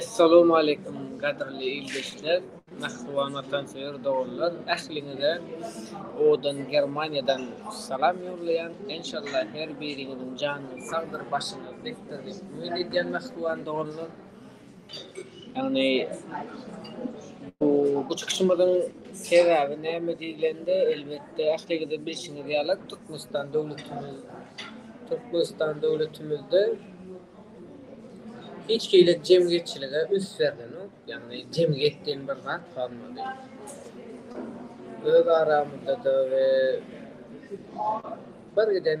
Essalamu Aleýkum gadyrly ildeşler, mähriban watansöýer doganlar! Ähliňize owadan Germaniýadan salam ýollaýan. Enşalla her biriňiziň janyňyz sagdyr, başyňyz dikdir diýip umyt edýän mähriban doganlar! Ýagny bu bu çykyşymyzyň sebäbi näme diýlende, elbetde ähliňiziň bilşiňiz ýaly Türkmenistan döwletimiz Türkmenistan döwletimizde hiç hili jemgyýetçilige üns berlenok. Ýagny jemgyýet diýen bir zat galmady. Öz aramyzda-da we birgiden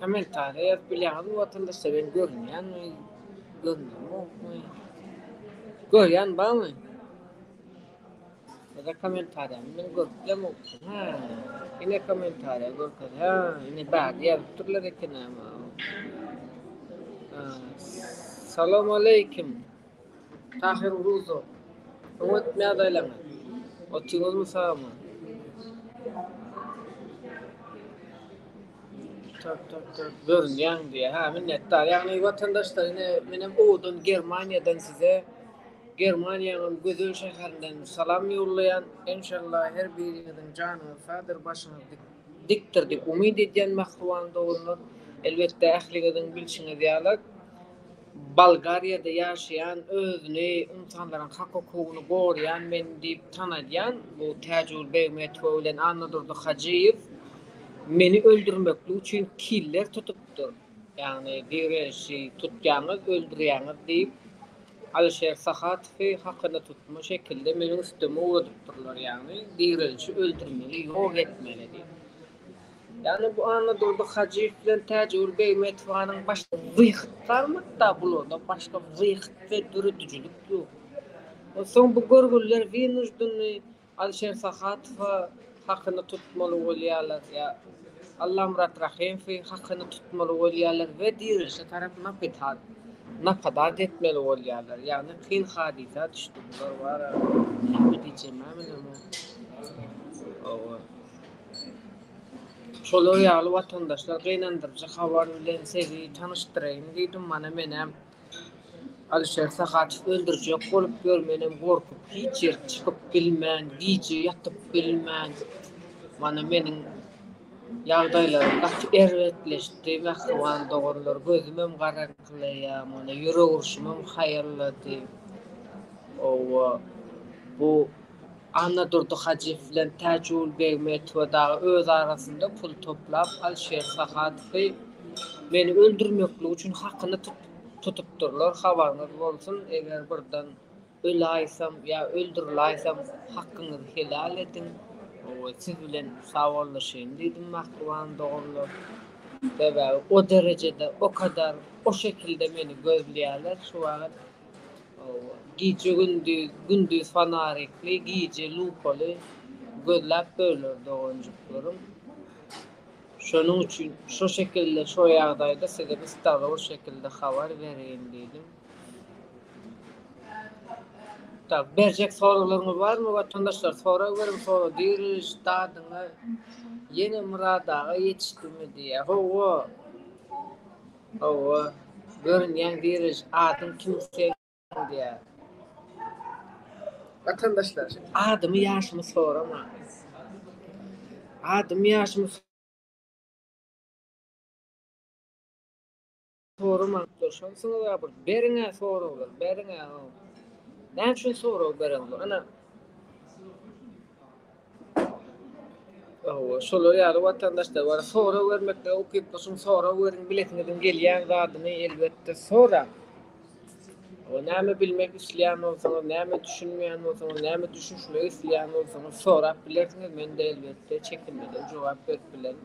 Kommentariýa ýazyp bilýäňizmi watandaşlar men görünýänmi görünýämokmy görýän barmy ýa-da kommentariýamy men görüp bilemokmy hä ine kommentariýa görkezýär ine bärde ýazyp durlar ekenem Salamaleýkim. Tahyr Ruzo, Soň ötmez aýlaňa, Otyňyzmy sagama? Görünýäň diýýär. Hä, minnetdar. Ýagny watandaşlar ine menem owadan Germaniýadan size Germaniýanyň gözel şäherinden salam ýollaýan. Enşalla her biriňiziň janyňyz sagdyr, başyňyz dikdir diýip umyt edýän mähriban doganlar. Elbetde ähliňiziň bilşiňiz ýaly, Bolgariýada ýaşaýan, özüni ynsanlaryň hak-hukugyny goraýan men diýip tanadýan bu Täjigül Begmetowa bilen Annadurdy Hajyýew meni öldürmeklik üçin killer tutupdyr. Ýagny Direji tutýaňyz, öldürýäňiz diýip, Alyşer Sahatowy hakyna tutma şekilde meniň üstüme ugradypdyrlar, ýagny Direji öldürmeli, ýok etmeli diýip. Ýagny bu Annadurdy Hajyýew bilen Täjigül Begmetowanyň başga wyhyt barmy hatda bularda başga wyhyt we döredijilik ýok. Onsoň bu görgüliler wynujdennyý Alişer Sahatowa hakyny tutmaly bolýarlar ýa Allamyrat Rahymowy hakyny tutmaly bolýarlar we dirilişe tarap napetat napadat etmeli bolýarlar. Ýagny kyn hadysa düşdi bular wara näme diýjemä bilemok. Hawa. Şolar ýaly watandaşlar gynandyryjy habar bilen sezi tanyşdyraýyn diýdim mana menem Alişer Sahatow öldürjek bolup ýör menem gorkup hiç ýere çykyp bilmän gije ýatyp bilmän mana meniň ýagdaýlarym gaty erbetleşdi mähriban doganlar gözümem garaňkylaýar mana ýürek urşumam haýallady owo bu Annadurdy Hajyýew bilen Täjigul Begmetowa dagy öz arasynda pul toplap, Alişer Sahatowy meni öldürmekligi üçin hakyny tutupdyrlar, habaryňyz bolsun, eger birden öläýsem ýa öldüriläýsem, hakyňyzy helal ediň, siz bilen sawollaşaýyn diýdim, mähriban doganlar. Sebäbi o derejede, o kadar, o şekilde meni gözleýärler şu wagt. Gije-gündiz, gündiz fanarikli, gije lupaly gözläp böler doganjyklarym. Şonuň üçin şo şekilde, şo ýagdaýda size bir stalowy şekilde habar bereýin diýdim. Tak, berjek soraglaryňyz barmy, watandaşlar? Sorag beriň, sorag diriş, dadyňyz ýene Myrat aga ýetişdimi diýýär. Hawa. Hawa, görünýän birij adyň kim seň? diýýär. Watandaşlar, adymy, ýaşymy soramaňyz. Adymy, ýaşymy soramaňyz. Durşamsyňyz a bir beriň-ä soraglar, beriň-ä. Näme üçin sorag bereňdir? Ana, Hawa, şolar ýaly watandaşlar bar. Sorag bermeklige ukyply, şuň sorag beriň, bilesiňiziň gelýän zadyny elbetde soraň. Hawa, näme bilmek isleýän bolsaňyz, näme düşünmeýän bolsaňyz, näme düşünişmek isleýän bolsaňyz sorap bilersiňiz, men-de elbetde çekinmeden jogap berip bilerin.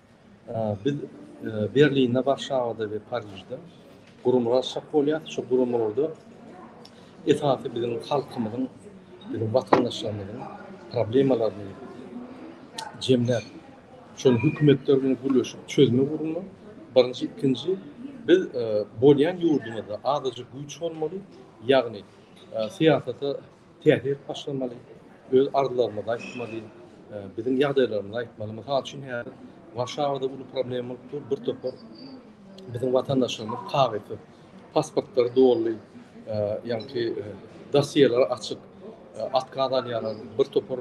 Biz Berlinde, Warşawada we Parižde guramalar çap bolýar. Şu guramalarda esasy biziň halkymyzyň, biziň watandaşlarymyzyň problemalaryny jemläp, şony hökümetler bilen gürleşip çözmek ugrunda birinji, ikinji biz bolýan ýurdumyzda azajyk güýç bolmaly, ýagny syýasata täsir başlamaly, öz arzuwlarymyzy aýtmaly, biziň ýagdaýlarymyzy aýtmaly. Mysal üçin, häzir Warşawada uly problem bolup dur, bir topar biziň watandaşlarymyz kagyzsyz, pasportlary doly, ýagny dossiýeleri açyk, otkaz alýarlar, bir topar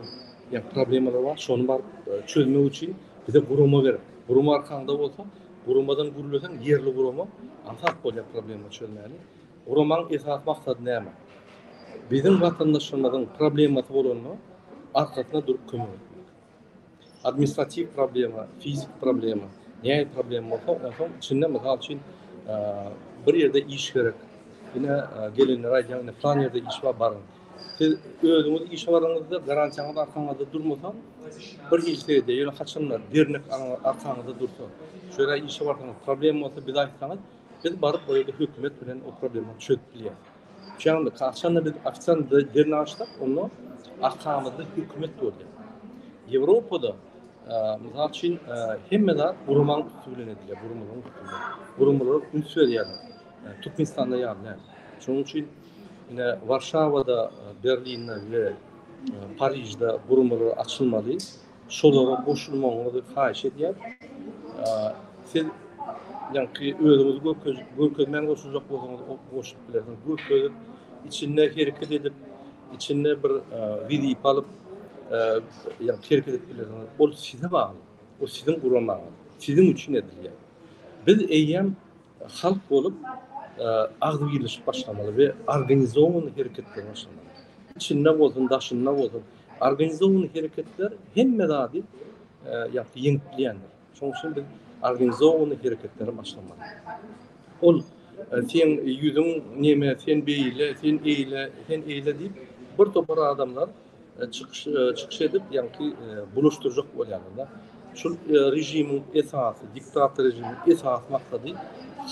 problemalar bar, şony baryp çözmek üçin bize gurama gerek. Gurama arkaňda bolsa, guramadan gürleseň, ýerli gurama aňsat bolýar problema çözmäge. Guramanyň esasy maksady näme? Biziň watandaşlarymyzyň problemasy bolanda arkasyna durup kömek etmek. Administratiw problema, fizik problema, nähili problema bolsa, onsoň içinde mysal üçin bir ýerde iş gerek. Ine gelenler aýdýan, ine plan ýerde iş bar, baryň. Siz özüňiz iş baryňyzda garantiýaňyz arkaňyzda durmasa, bir hiç ýerde ýöne haçanda dernek arkaňyzda dursa, şeýle işe barsaňyz problem bolsa bize aýtsaňyz, Biz baryp o ýerde hökümet bilen o problemi çözüp bilýäris. Şeýle kaçanda biz ofisial derni açdyk, onda arkamyzda hökümet boldy. Ýewropada mysal üçin hemme zat guramaň üsti bilen edilýär, guramagyň üsti bilen. Guramalar üns berýärler. Türkmenistanda ýaly. Şonuň üçin ine Warşawada, Berlinde we Parižde guramalar açylmaly. Şolara goşulmagyňyzy haýyş edýän. Siz ýaňky özüňizi görkezip, görkezmän goşuljak bolsaňyz, goşup bilersiňiz. Görkezip, içinde hereket edip, içinde bir wezipe alyp, ýaňky hereket edip bilersiňiz. Ol size bagly. Ol siziň guramaňyz. Siziň üçin edilýär. Biz eýýäm Halk bolup agzybirleşip başlamaly we organizowany hereketler başlamaly. Içinde bolsun, daşynda bolsun. Organizowany hereketler hemme zady ýakdy ýeňip bilýändir. Şoň üçin biz organizowany hereketleri başlamaly. Ol sen ýüzüň neme, sen beýle, sen eýle, sen eýle diýip bir topar adamlar Çykyş çykyş edip, ýaňky bulaşdyrjak bolýarlar. Şu režimiň esasy, diktator režimiň esasy maksady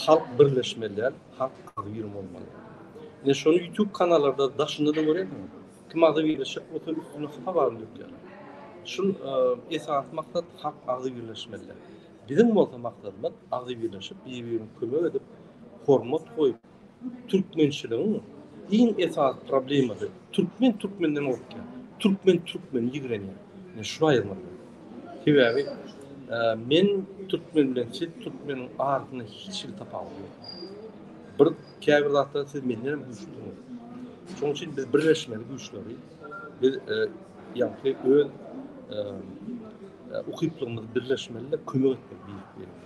halk birleşmeli däl, halk agzybir bolmaly. Ine şony YouTube kanallarda daşynda-da görersiňiz. Kim agzybirleşjek bolsa üstüne hapa baryny dökýärler. Şul esasy maksat halk agzybirleşmeli däl. Biziň bolsa maksadymyz agzybirleşip, bir-birimize kömek edip, hormat goýup, Türkmençiligiň iň esasy problemasy, türkmen türkmenden gorkýar, türkmen türkmeni ýigrenýär. Men şuny aýyrmaly boldum. Sebäbi men türkmen bilen siz türkmeniň arasynda hiç hili tapawut ýok. Bir käbir zatda siz menden hem güýçlüsiňiz. Şonuň üçin biz birleşmeli güýçleri biz ýagty öz ukyplygymyzy birleşmeli-de kömek etmeli.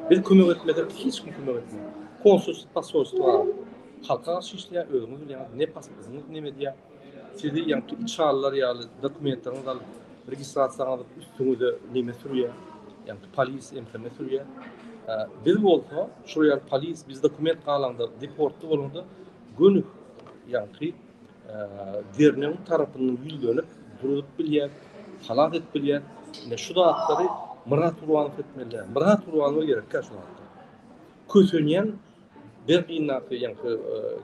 Biz kömek etmesek hiç kim kömek etmez. Konsulsyz posolstwo bar. Halka garşy işleýär, özüňiz bilýäňiz ne pasportyňyz neme diýýär. Sizi ýa türk çalylar ýaly dokumentleriňizi alyp registrasiýaňyzy üstüňize neme sürýär. Ýa polis MTM sürýär. Biz bolsa şol ýaly polis biz dokument galaňda deportly bolaňda gönük ýa derňew tarapyndan ýüzlenip durup bilýär, halas edip bilýär. Ine şu zatlary Myrat Gurbanow etmeli. Myrat Gurbanow gerekkä şu zatlar. Kösenýän Berlindaky, ýa şu e,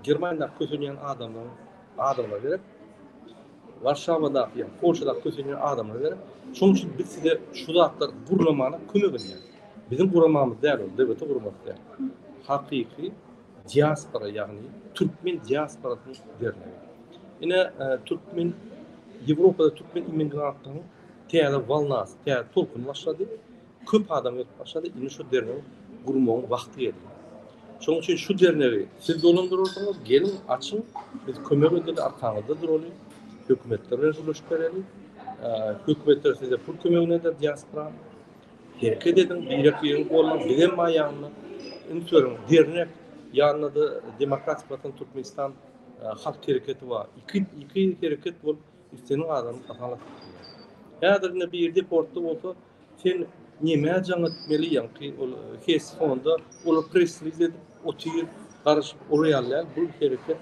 Germaniýadaky kösenýän adamlaryň adamlar gerek. Warşawadaky, ýa Polşadaky kösenýän adamlar gerek. Şonuň üçin biz size şu zatlar gurlamana kömek edýäris. Biziň guramamyz däl, döwleti gurmak däl. Hakyky diaspora ýagny türkmen diasporasynyň dernegi. Ine e, türkmen Ýewropada türkmen immigrantlaryň täze walnasy, täze tolkuny başlady. Köp adam gelip başlady. Indi şu dernegiň gurmagyň wagty geldi. Şonuň üçin şu dernegi siz dolandyrarsyňyz, gelin açyň, biz kömek edeli, arkaňyzda duraly, hökümetler bilen gürleşip bereli. E, hökümetler size pul kömegini eder diaspora. Hereket ediň, birek biregi gollan bizem bar ýanyna üns beriň dernek ýanynada Demokratik Watan Türkmenistan halk hereketi bar. Iki iki hereket bolup isleniň adamyň hasabyna atyp bilýär. Häzir indi bir deportda bolsa sen nämä jaň etmeli ýaňky ol hes fonda ol presliz edip otyr garaşyp ol ýaly däl bu hereket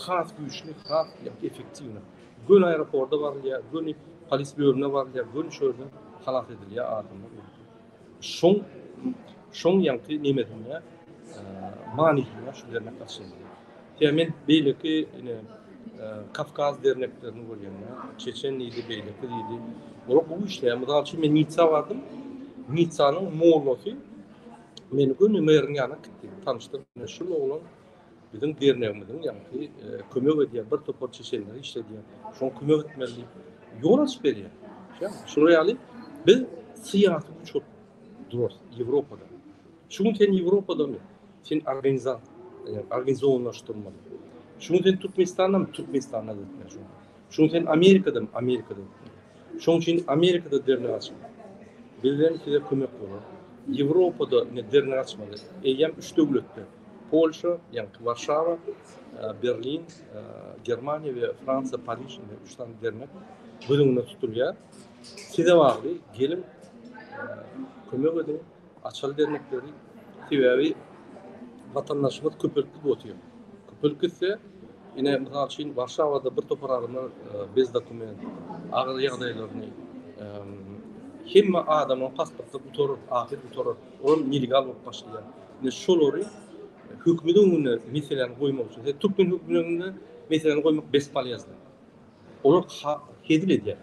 has güýçli has efektiwna. Göni aeroporda barylýar, göni polis bölümine barylýar, göni şu ýerden halas edilýär adamlar. Şoň şoň ýaňky nemesinde manysynda şu dernek başlandy. Ýa men beýleki ine Kavkaz derneklerini görýände, Çeçen diýdi, beýleki diýdi. Olar gowy işleýär. Mysal üçin men Nitsa bardym. Nitsanyň mollasy meni göni meriň ýanyna gitdi. Tanyşdyk. Şu oglan Biziň dernegimiziň ýaňky kömek edýän bir topar çeşenleri işledýär. Şoň kömek etmeli ýol açyp berýär. Şolar ýaly biz syýasy güç bolup durarys Ýewropada. Şu gün sen Ýewropadamy? Sen organizat, organizowlaşdyrmaly. Şu gün sen Türkmenistandamy? Türkmenistanda etmeli. Şu gün sen Amerikadamy? Amerikada etmeli. Şoň üçin Amerikada dernek açyň. Bizden size kömek bolar. Ýewropada ine dernek açmaly. Eýýäm üç döwletde, Polşa, ýaňky Warşawa, Berlin, Germaniýa we Fransiýa, Pariž ine üç sany dernek göz öňünde tutulýar. Size bagly, geliň, kömek ediň. Açaly dernekleri sebäbi watandaşymyz köpelip otýar. Köpelip gitse, ine mysal üçin Warşawada bir topar adamlar bez dokument, agyr ýagdaýlaryny hemme adamyň pasporty gutar, ahyr gutar, ol nelegal bolup başlaýar. Ine şolary hökümetiň öňünde meseläni goýmak üçin, türkmen hökümetiň öňünde meseläni goýmak bespolýazny. Olar hezil edýär.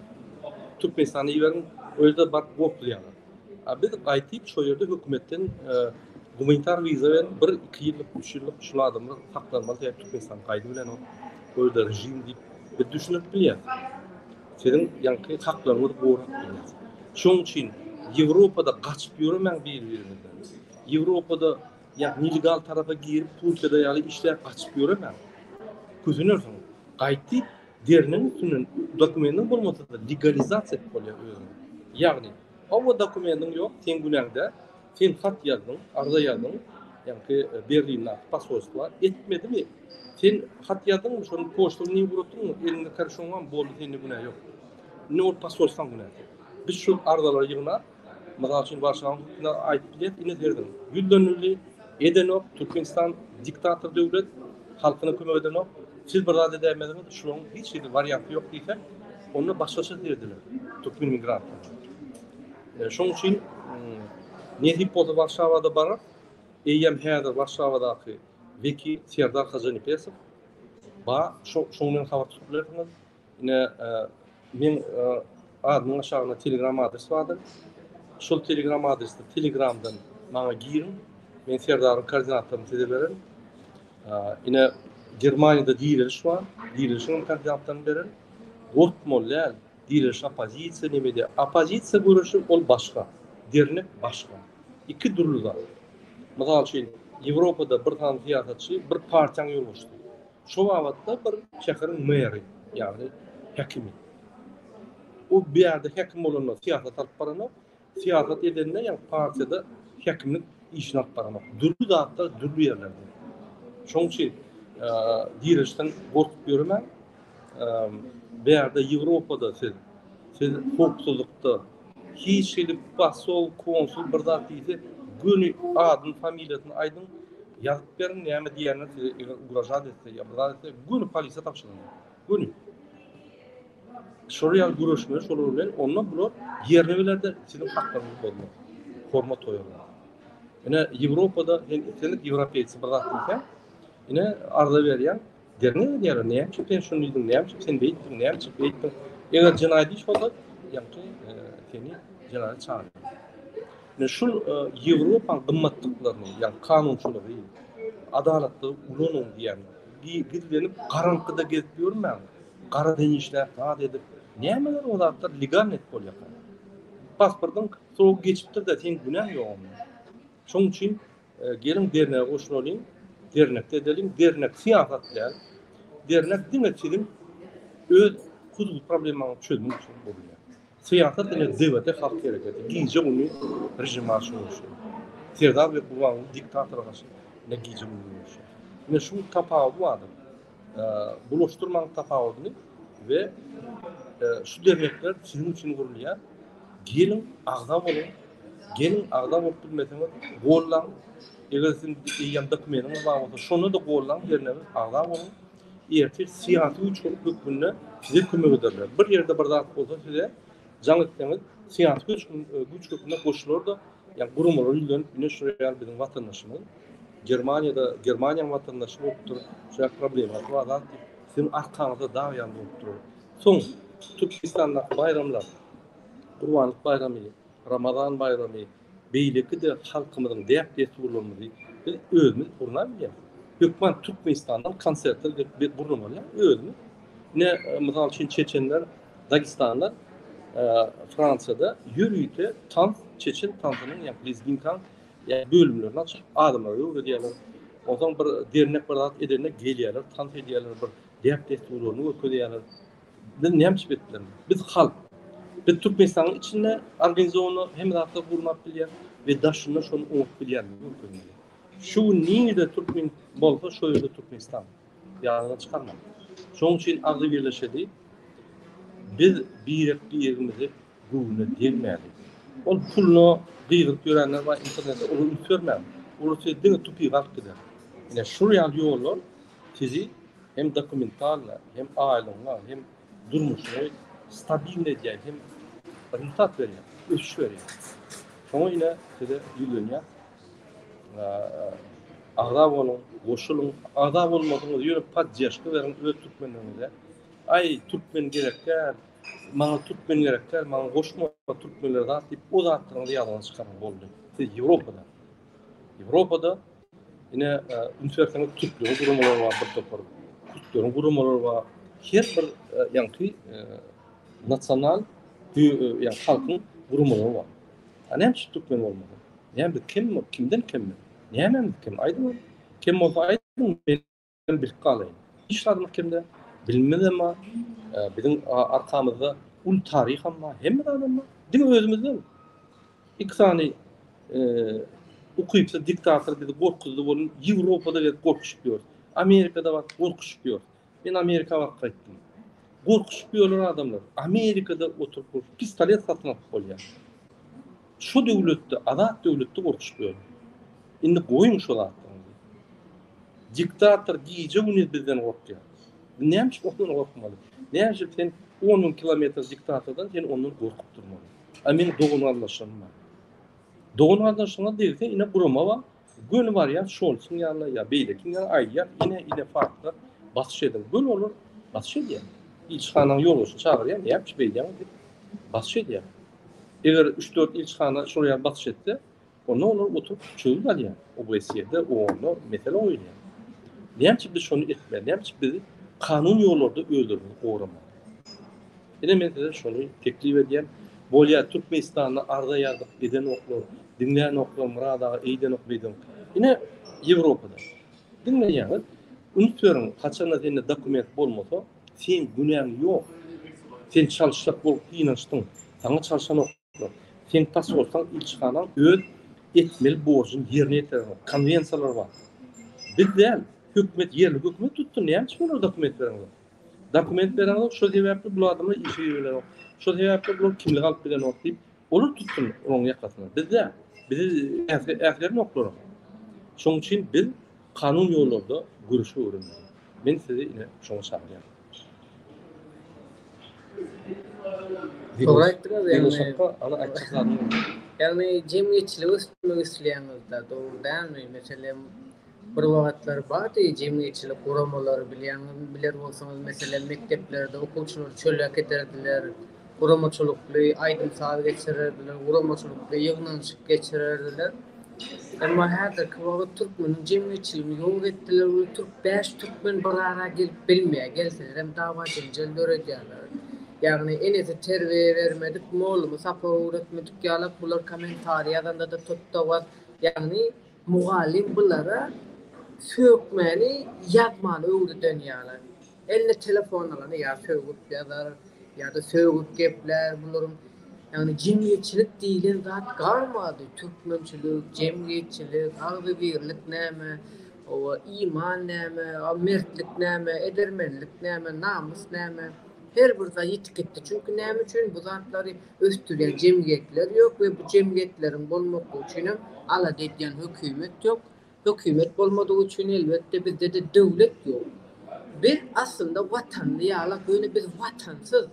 Türkmenistana iberiň, özleri baryp gopulýarlar. A biz gaýtyp şo ýerde hökümetden gumanitar wiza berip bir iki ýyllyk, üç ýyllyk şul adamlar saklanmaly sebäp Türkmenistan gaýdy bilen ol özleri režim diýip biz düşündirip bilýäs. Siziň ýaňky haklaryňyzy gorap bilýäs. Şoň üçin Ýewropada gaçyp ýöremäň biri-biriňizden. Ýewropada Ýa nelegal tarapa girip, Turkiýada ýaly işläp, gaçyp ýöremäň. Kösenersiň. Gaýt diýip, deriniň üstünden dokumentiň bolmasa-da legalizasiýa edip bolýar özüňi. Ýagny, hawa dokumentiň ýok, seň günäňde, sen hat ýazdyň, arza ýazdyň, ýagny Berlinde posolstwa etmedimi? Sen hat ýazdyňmy, şony poçta bilen ugratdyňmy? Eliňde karşoň barmy? Boldy, sende günä ýok. Indi ol posolstwaň günäsi. Biz şol arzalary ýygnap, Mysal üçin, Warşawyň hukmunda aýdyp bilerdik, ine serediň, ýüzlenildi, edenok, Türkmenistan diktator döwlet, halkyna kömek edenok, siz bir zat edäýmeziňiz, şularyň hiç hili warianty ýok diýsek, onda başgaça serediler türkmen migrantlar. E, şoň üçin hmm, nesip bolsa Warşawada barar, eýýäm häzir Warşawadaky wekil Serdar Hajanepesov, ba, şoň bilen habar tutup bilersiňiz, Ine, men admyň aşagynda Telegram adresi bardyr. Şol Telegram adresde Telegramdan maňa giriň. Men Serdaryň koordinatlaryny size bererin. Ine, Germaniýada direliş bar. Direlişiň koordinatlaryny bererin. Gorkmaly däl. Direliş oppozisiýa nemede? Oppozisiýa göreşi ol başga. Dernek başga. Iki dürli zat. Mysal üçin, Ýewropada bir sany syýasatçy bir partiýanyň ýolbaşçysy. Şo babatda bir şäheriň meri, ýagny häkimi. Bu bu ýerde häkim bolanda syýasat alyp baranok, syýasat edende ýa partiýada häkimlik işini alyp baranok. Dürli zatlar dürli ýerlerde. Şoň üçin direşden gorkup ýöremän, bu ýerde Ýewropada siz siz howpsuzlykda Hiç hili posol, konsul bir zat diýse, göni adyny, familiýasyny aýdyň, ýazyp beriň, näme diýenini size eger ugražat etse ýa bir zat etse, göni polisiýa tabşyryň. Göni. Şolar ýaly göreşmeli şolar bilen, onda bular ýerine gelerde siziň haklaryňyzy bozmaz. Hormat goýarlar. Ine, Ýewropada hem islendik ýewropeýsi bir zat diýse, ine, arza berýär. Derňew edýärler, näme üçin sen şuny diýdiň, näme üçin sen beýtdiň, näme üçin beýtdiň? Eger jenaýat iş bolsa, ýagty e, seni jenaýat çagyrýar. Men şu e, Ýewropa gymmatlyklaryny, ýagny kanunçylygy, adalatly ulanyň diýen, gizlenip garaňkyda gezip ýörmäň. Gara deňişläp, zat edip, nämeler o zatlar legalnyk bolýar. Pasportyň srok geçipdir-de, sen günäň ýok. Şonuň üçin geliň dernege goşulalyň, dernekde edelim, dernek syýasat däl. Dernek diňe siziň öz huzur problemaňyzy çözmek üçin gurulýar. Syýasat diňe dewlete halk hereketi, gije güni rejim aşyryşy. Serdar we Gurbanguly diktator gaşy ne gije güni görüşýär. Ine şu tapawut bardyr. Bulaşdyrmaň tapawudyny we şu dernekler siziň üçin gurulýar. Geliň, agza boluň. Geliň, agza bolup bilmeseňiz, gollaň. Eger siziň eýýäm dokumentiňiz bar bolsa, şonda-da gollaň dernege, agza boluň. Ertir syýasy güýç hökmünde size kömek ederler. Bir ýerde bir zat bolsa size jaň etseňiz, syýasy güýç hökmünde goşular-da, ýa guramalar ýüzlenip, ine şu ýaly biziň watandaşymyz. Germaniýada Germaniýanyň watandaşy bolupdyr. Şuyak problemasy bar zat diýip siziň arkaňyzda dag ýaly bolup durar. Soň Türkmenistandaky baýramlar Gurbanlyk baýramy, Ramazan baýramy beýleki-de halkymyzyň däp-dessurlarymyzy biz özümiz gurna bilýäris. Hökman Türkmenistandan konsertler gelip gurnamaly ýa özümiz. Ine mysal üçin çeçenler, dagestanlar Fransiýada ýörite tans çeçen tansynyň ýa lezginkaň Yani bölümlerini açıp adamlara öwredýärler. Ondan bir dernek bir zat edende gelýärler, tans edýärler, bir dep desturlaryny görkezýärler. Biz näme iş etdiler? Biz halk. Biz Türkmenistanyň içinde organizowany hem zatda gurmak bilýär we daşynda şonu oňup bilýär. Şu gün nirde Türkmen bolsa şu ýerde Türkmenistan. Ýadyňa çykarma. Şoň üçin agzy birleşedi. Biz birek birimizi göwnüne degmäli. Ol puluna gygyryp ýörenler bar internetde olar üns bermän olar size diňe tupigy alyp gider. Ine şul ýaly ýollar sizi hem dokumentalna hem aýlygyňa hem durmuşyňy stabilny edýär hem rezultat berýär ösüş berýär. Şoňa ine size ýüzlenýär. Agza boluň goşulyň agza bolmadyňyz ýöne poddeşka beriň öz türkmenleriňize. Aý türkmen gerek däl. Maňa türkmen gerek däl, maňa goşma türkmenler zat diýip o zatlaryňyzy ýazyň çykaryň boldy. Siz Ýewropada. Ýewropada ine e, üns berseňiz türkleriň guramalary bar bir topar. Kürtleriň guramalary bar. Her bir e, ýaňky e, nasional ýa halkyň guramalary bar. Ha näme şu türkmen bolmaly? Näme kim kimden kim? Näme kim aýdyň? Kim bolsa aýdyň Hem bilip galaýyn. Hiç zady mahkemde bilimimiz hem bar. Biziň arkamyzda uly taryh hem bar. Hemme zady hem bar. Diňe özümizden iki sany ukypsyz diktator bizi gorkuzdy bolun. Ýewropada gezip gorkuşyp ýörüs. Amerikada baryp gorkuşyp ýörüs. Men Amerika baryp gaýtdym. Gorkuşyp ýörler adamlar. Amerikada oturyp pistolet satyn alyp bolýar. Şu döwletde azat döwletde gorkuş böl. Indi goýuň şo zatlaryňyzy. Diktator gije gündiz bizden gorkýar. Näme üçin ondan gorkmaly? Näme üçin sen 10 müň kilometr diktatordan sen ondan gorkup durmaly? A men dogan gardaşyň bar. Dogan gardaşyňa degse ine gurama bar. Göni barýar, Şolsuň ýanyna ýa beýlekiň ýanyna aýdýar, ine ile farkda basyş ediň. Göni olar basyş edýär. Ilçihanaň ýolbaşçyny çagyrýar, näme üçin beýdýäňiz diýip basyş edýär. Eger üç-dört ilçihana şol ýaly basyş etse, onda olar oturyp çözgüt alýar. OBSE-de, OON-da mesele goýulýar. Näme üçin biz şony etmeli? Näme üçin biz kanun ýollarda özlerimizi goramaly? Ine men size şony teklip edýän. Bolýa Türkmenistanda arza ýazyp edenoklar, diňlänoklar Myrat aga eýdenok beýdenok. Ine Ýewropada. Diňleýäňiz. Üns beriň haçanda sende dokument bolmasa seň günäň ýok. Sen çalşjak bolup synanyşdyň. Saňa çalşanok. Sen tas bolsaň ilçihanaň öz etmeli borjuny ýerine ýetirer. Konwensiýalar bar. Biz däl, hökümet ýerli hökümet tutdy. Näme üçin olar dokument berenok? Dokument berenok, şo sebäpli bu adamlar işe ýüwrenok. Şo sebäpli bular kimlik alyp bilenok diýip, olar tutsun onuň ýakasyny. Biz däl. Bizi äsgernoklar. Şonuň üçin biz kanun ýollarda göreşip öwrenmeli. Men sizi ine şoňa çagyrýan. Dogry aýtdyňyz ýagny. Ýagny jemgyýetçiligi ösdürmek isleýäňizde dogry dälmi? Meselem bir wagtlar bardy jemgyýetçilik guramalary bilýäňizmi biler bolsaňyz meselem mekdeplerde okuwçylary çöle äkiderdiler. guramaçylykly aýdym-saz geçirerdiler, guramaçylykly ýygnanyşyk geçirerdiler. Emma häzirki wagt türkmeniň jemgyýetçiligini ýok etdiler we türk bäş türkmen bir ara gelip bilmeýär, gelselerem dawa-jenjel döredýärler. Ýagny enesi terbiýe bermedik, mollumy sapak öwretmedik ýalak bular kommentariý ýazanda-da tut-da-was, ýagny mugallym bulara sökmäni ýazmany öwreden ýalak. Eline telefon alany ýa sögüp ýazar, ýa-da sögüp geplär. Bularyň, ýagny jemgyýetçilik diýlen zat galmady. Türkmençilik, jemgyýetçilik, agzybirlik näme, oba, iman näme, a mertlik näme, edermenlik näme, namys näme? Her bir zat ýitip gitdi. Çünki näme üçin bu zatlary ösdürýän jemgyýetler ýok we bu jemgyýetleriň bolmaklygy üçinem alada edýän hökümet ýok. Hökümet bolmadygy üçin elbetde bizde-de döwlet ýok. Biz aslynda watanly ýalak, ýöne biz watansyz.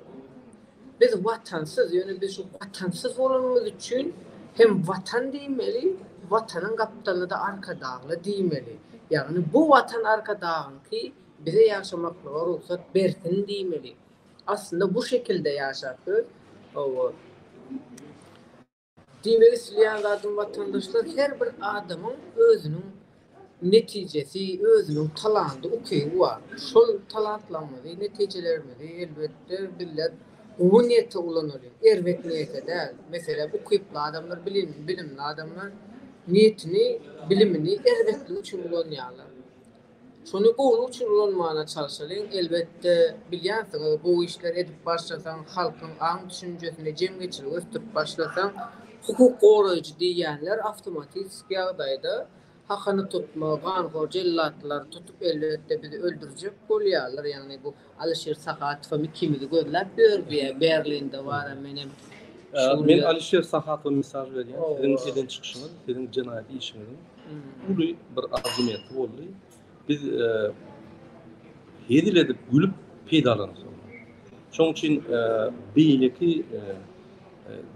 Biz watansyz, ýöne biz şu watansyz bolanymyz üçin hem watan diýmeli, watanyň gapdalyna-da Arkadagly diýmeli. Ýagny bu watan Arkadagyňky, bize ýaşamaklyga rugsat bersin diýmeli. Aslynda bu şekilde ýaşap biz, hawa. Diýmek isleýän zadym watandaşlar her bir adamyň özüniň netijesi, özüniň talandy, ukyby bar. Şol talantlarymyzy, netijelerimizi elbetde bizler gowy niýete ulanaly, erbet niýete däl. Meselem, ukyply adamlar, bilimli adamlar niýetini, bilimini erbetligi üçin ulanýarlar. Şony göwni üçin ulanmana çalşalyň, elbetde, bilýänsiňiz, gowy işler edip başlasaň, halkyň aň-düşünjesini, jemgyýetçiligi ösdürip başlasaň, hukuk goraýjy diýýänler awtomatistiki ýagdaýda hakyny tutma, ganhor jellatlar tutup, elbetde, bizi öldürjek bolýarlar, ýagny bu Alişir Sahatowam ikimizi gözläp ýördi, Berlinde wara menem. Men Alişir Sahatowa mysal berýän, siziň eden çykyşyňyz, siziň jenaýat işiňiziň uly bir argumenti boldy. Biz hezil edip, gülüp peýdalandyk. Şoň üçin beýleki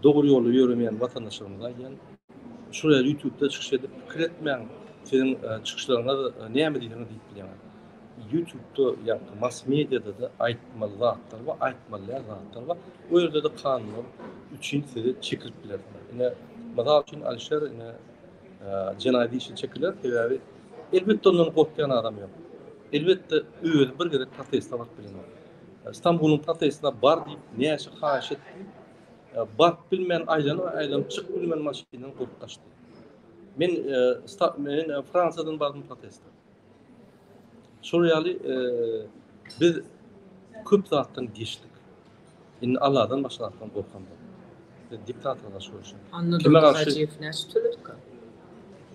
dogry ýolda ýöremeýän watandaşlarymyza aýdýan, şuraya YouTube-da çykyş edip pikir etmäň, siziň çykyşlaryňyz näme diýseňiz diýip bilýän. Ýutubda ýa-da mass mediada-da aýtmaly zatlar bar, aýtmalýan zatlar bar. O ýerde-de kanunlar üçin sizi çekilip bilersiňiz. Ine, mysal üçin Alişer ine jenaýat işi çekiler, sebäbi elbetde ondan gorkýan adam ýok. Elbetde özi bir gezek proteste baryp bilenok. Stambulyň protestine bar diýip näçe haýyş etdi. Baryp bilmän aýlanyp-aýlanyp çykyp bilmän maşyndan gopup gaçdy. Men Fransiýadan bardym proteste. Şol ýaly biz köp zatdan geçdik. Indi Allahdan başga zatdan gorkam ýok. Biz diktatora garşy göreşýäs. Annadur Hajyýew näçe töledika?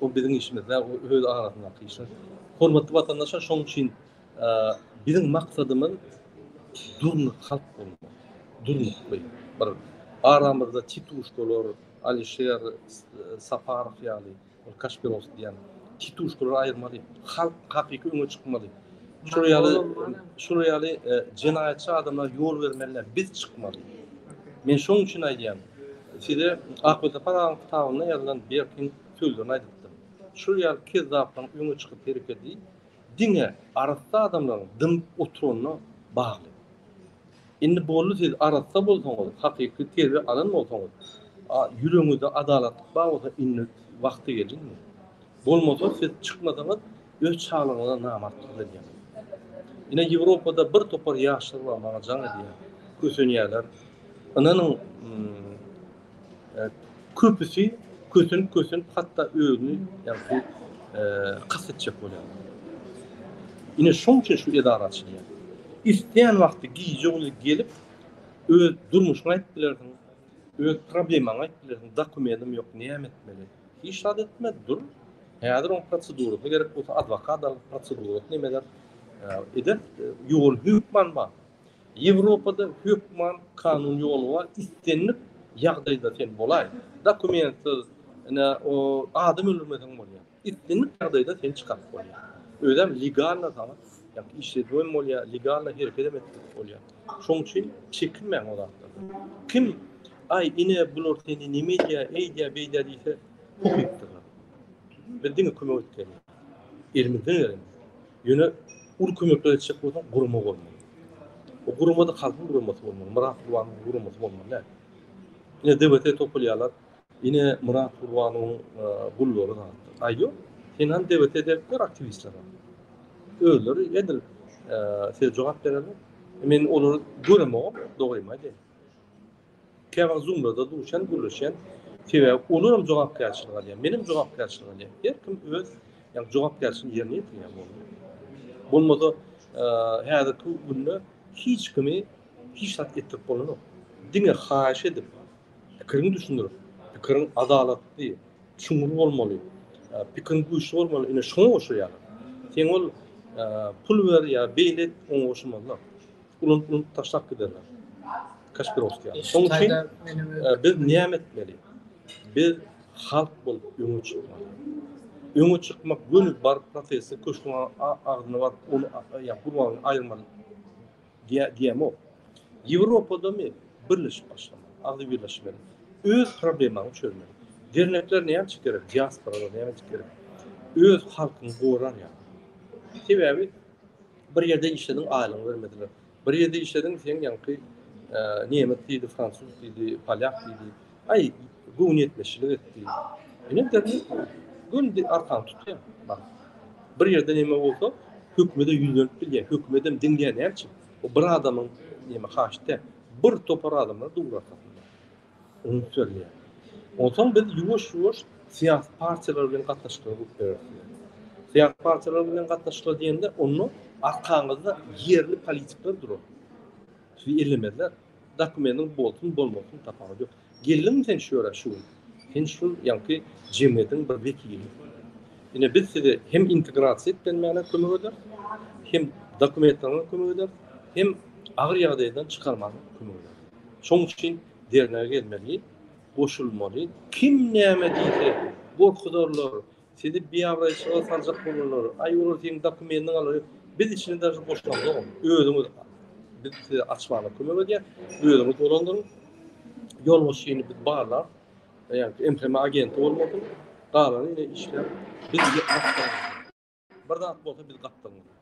O biziň işimiz däl, o öz arasyndaky işler. Hormatly watandaşlar, şonuň üçin biziň maksadymyz durnuk halk bolmak. Durnukly bir aramyzda tituşkalar, Alişer Saparow ýaly Ol Kaşpirows diýýän tituşkalary aýyrmaly. Halk hakyky öňe çykmaly. Şular ýaly, şular ýaly e, jenaýatçy adamlara ýol bermeli, biz çykmaly. Men şoň üçin aýdýan, size Akbesapar agaň kitabynda ýazylan Berkiň sözlerini aýdypdym. Şular ýaly kezzaplaryň öňe çykyp herekedi diňe arassa adamlaryň dymyp oturanyna bagly. Indi boldy siz arassa bolsaňyz, hakyky terbiýe alan bolsaňyz, ýüregiňizde adalatlyk bar bolsa indi wagty gelindi. Bolmasa siz çykmasaňyz öz çalygyňyza namartlyk edýäňiz. Ine Ýewropada bir topar ýaşlar bar maňa jaň edýär, kösenýärler. Ynanyň Köpüsi kösenip-kösenip hatda özüni ýagşy kast etjek bolýarlar. Ine şoň üçin şu edara açylýar. Isleýän wagty gije bolýar gelip öz durmuşyňy aýdyp bilersiň, öz problemaňy aýdyp bilersiň, dokumentim ýok näme etmeli? Hiç zat etme dur, häzir oň prosedurasy gerek bolsa adwokat al, prosedurasy näme eder, eder, ýoly hökman bar. Ýewropada hökman kanun ýoly bar, islendik ýagdaýda sen bolaý, dokumentsiz, ine, o, adam öldürmeseň bolýar. Islendik ýagdaýda seni çykaryp bolýar. Özem legalno saňa, ýa-da işledip hem bolýar, legalno hereket hem edip bolýar. Şoň üçin çekinmäň o zatlardan. Kim, Aý, ine, bular seni neme edýär, eýdýär, beýdýär diýse, köpüpdirler. Biz diňe kömek etgeliň. Elimizden geleni. Ýöne uly kömekler etjek bolsaň, gurama bolmaly. O guramada halkyň guramasy bolmaly, Myrat Gurbanowyň guramasy bolmaly däl. Ine DWT topulýarlar. Ine Myrat Gurbanowyň e, gullary da. Aý ýok. Sen hem DWT depdir aktiwistlere. Özleri edil e, size jogap bererler. Men olary göremogam, dogrymy aýdaýyn. Käwagt zuňňuda duşan, gürleşen. Sebäbi olaram jogapkärçilik alýar. Menem jogapkärçilik alýar. Her kim öz ýa jogapkärçilik ýerine ýetirýär boldy. Bolmasa, häzirki günde hiç kimi hiç zat etdirip bolanok. Diňe haýyş edip, pikiriňi düşündirip, pikiriň adalatly, çuňňur bolmaly, pikiriň güýçli bolmaly, ine şoňa goşulýarlar. Sen ol pul ber ýa beýle et, oňa goşulmazlar. urup urup taşlap giderler. Kaspirovskiý. Şoň üçin biz näme etmeli? Biz halk bolup öňe çykmaly. Öňe çykmak göni bar prosesi köşgüň agzyna bar ony ýa gurbagyny aýyrmaly. Diýemo. Ýewropada mi birleşip başlamaly. Agzy birleşmeli. Öz problemaňy çözmeli. Dernekler näme üçin gerek? Diaspora näme üçin gerek? Öz halkyňy goran ýa. Sebäbi Bir ýerde işlediň, aýlygyňy bermediler. Bir ýerde işlediň, seň ýaňky nemes diýdi, fransuz diýdi, polýak diýdi. Aý, göwün ýetmezçilik etdi. Ine derňi gün arkan tutýar. Bir ýerde näme bolsa, hökümede ýüzlenip bilýär. Hökümedem diňleýär näme üçin? O bir adamyň näme haşda, bir topar adamlar dur arkasynda. Öňüp çözülýär. Onsoň biz ýuwaş-ýuwaş syýasy partiýalar bilen gatnaşyklara üns bereris diýýär. Syýasy partiýalar bilen gatnaşyklar diýende, onda arkaňyzda ýerli politikler durar. Sizi ellemezler. Dokumentiň bolsun, bolmasyn, tapawudy ýok. Geldiňmi sen şu ýere şu gün? Sen şu ýaňky jemgyýetiň bir wekili. Ine, biz size hem integrasiýa etmänä kömek ederis, hem dokumentleriňe kömek ederis, hem agyr ýagdaýdan çykarmaga kömek ederis. Şoň üçin derňe gelmeli, goşulmaly. Kim näme diýse, gorkuzarlar, sizi biabraýçylyga saljak bolarlar, aý olar seniň dokumentiňi alar, biz içini daşyny goşamzok onuň. Özüňiz biz size açmaga kömek edýäs, özüňiz dolandyryň. Ýolbaşçyny biz barlap, ýagny MHM agenti bolmasyn, galany ine işläp biz Bir zat bolsa biz gapdalymyz.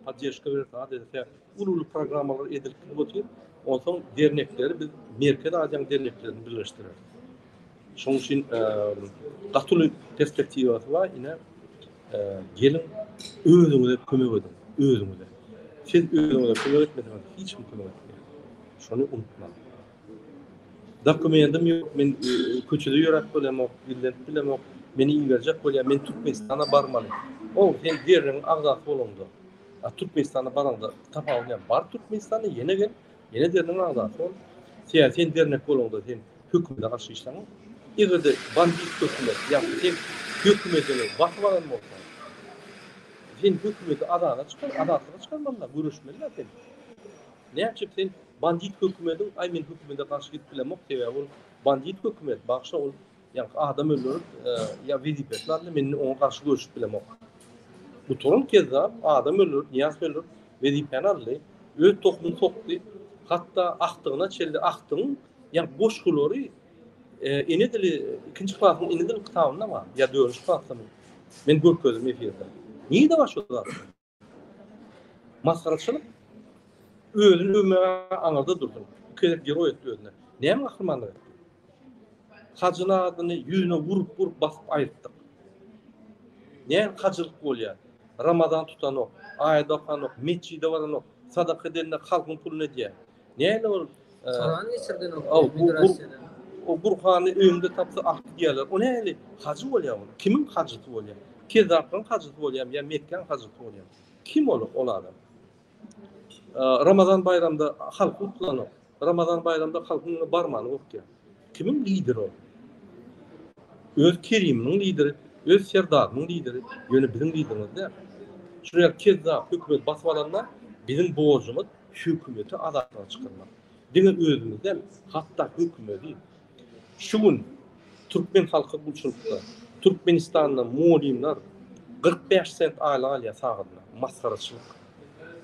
Poddeşka berip zat edilse, ulu-ulu programmalar edilip gidip otyr. Onsoň dernekleri biz Merkez Aziýaň derneklerini birleşdireris. Şoň üçin gatyly perspektiwasy bar. Ine, gelin özüňize kömek ediň, özüňize. Siz özüňize kömek etmeseňiz, hiç kim kömek etmeýär. Şony unutmaň. Dokumentim ýok, men köçede ýöräp bilemok, dillenip bilemok, meni iberjek bolýar, men Türkmenistana barmaly. O, sen DRNIň agzasy bolaňda, Türkmenistana baraňda tapawudy näme? Bar Türkmenistana, ýene gel, ýene DRNIň agzasy bol. Ýa sen dernek bolaňda sen hökümete garşy işläňok. Eger-de bandit hökümet ýa-da sen hökümetini basyp alan bolsaň, sen hökümeti azada çykar, azatlyga çykarmaly-da, göreşmeli-dä sen. Näme üçin sen bandit hökümediň, aý men hökümede garşy gidip bilemok, sebäbi ol bandit hökümet, bagşa ol ýa adam öldürip, e, ýa wezipesi bardy, men oňa garşy görüşip bilemok. Bu turun kezza adam öldürip, niýaz öldürip, wezipäni aldy, öz tohumyny sokdy, hatda akdygyna çeldi, akdygyň ýa goşgulary e, ene dili ikinji klasyň ene dili kitabynda bar, ýa dördünji klasda Men görkezdim efirde. Niýde bar şu zat? Masgaraçylyk özüni öwmäge aňyrda dursun. Bu gezek geroý etdi özüne. Näme gahrymanlyk etdi? Hajyny adyny ýüzüne urup urup basyp aýyrtdyk. Näme hajylyk bolýar? Ramazan tutanok, aýat okanok, metjide baranok, sadaka edende halkyň puluny edýär. Näme ol? Soran geçirden migrasiýada. O Gurhany öňde tapsa ak diýerler. O näli? Hajy bolýar ol. Kimiň hajysy bolýar? Kezzaplaryň hajysy bolýar ýa Mekgäň hajysy bolýar? Kim ol ol adam? Ramazan baýramda halk utlanok. Ramazan baýramda halkyň ýa barmany gorkýar. Kimiň lider ol? Öz keriminiň lideri, öz serdarynyň lideri, ýöne biziň liderimiz däl. Şuňa kezzap hökümet basyp alanda biziň borjumyz Hökümeti azatlyga çykarmak. Diňe özümiz däl, hatda hökümeti. Şu gün türkmen halky gulçulykda. Türkmenistanda mugallymlar kyrk bäş sent aýlyk alýar sagadyna. Masgaraçylyk.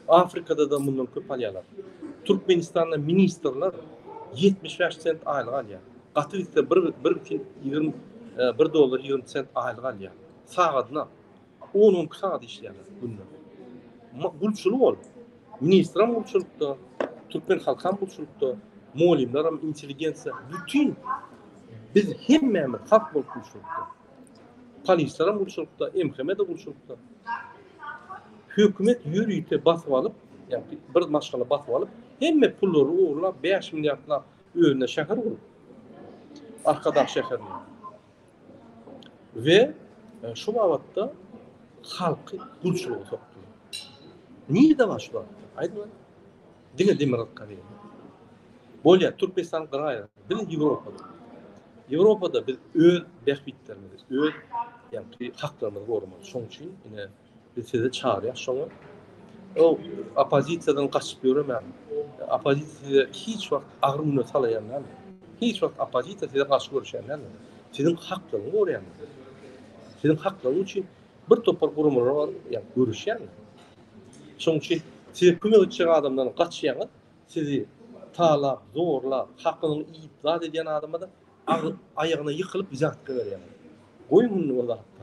Afrikada-da mundan köp alýarlar. Türkmenistanda ministrler ýetmiş bäş sent aýlyk alýar. Gaty gitse bir bir ýigrimi bir dollar ýigrimi sent aýlyk alýar. Sagadyna. On on iki sagat işleýärler günde. Gulçulyk ol. Ministram gulçulykda, türkmen halkam gulçulykda, mugallymlaram, intelligensiýa, bütin biz hemmämiz halk bolup gulçulykda. Polisleram gulçulykda, MHM-de gulçulykda. Hökümet ýörite basyp alyp, ýa-da bir maşgala basyp alyp, hemme pullary ogurlap, bäş milliardlap özüne şäher gurup. Arkadag şäherini. we e, şu babatda halky gulçulyga sokdular. Nirde bar şu babatda? Aýdyň. Diňe Demirgazyk Koreýa. Bolýar, Türkmenistan garaýar. Biz Ýewropada. Ýewropada biz öz bähbitlerimizi, öz ýagny haklarymyzy goramalydyrys. Şoň üçin ine Biz sizi çagyrýas şoňa. O oppozisiýadan gaçyp ýöremäň. Oppozisiýa size hiç wagt agyr güne salaýan däl. Hiç wagt oppozisiýa size garşy görüşýän däl. Siziň haklaryňyzy goraýan. Siziň haklaryňyz üçin bir topar guramalar bar, ýa görüşýän. Şoň üçin size kömek etjek adamdan gaçýaňyz. Sizi talap, zorlap, hakyňyzy iýip, zat edýän adama da aýagyna ýykylyp zat berýäňiz. Goýun indi o zatda.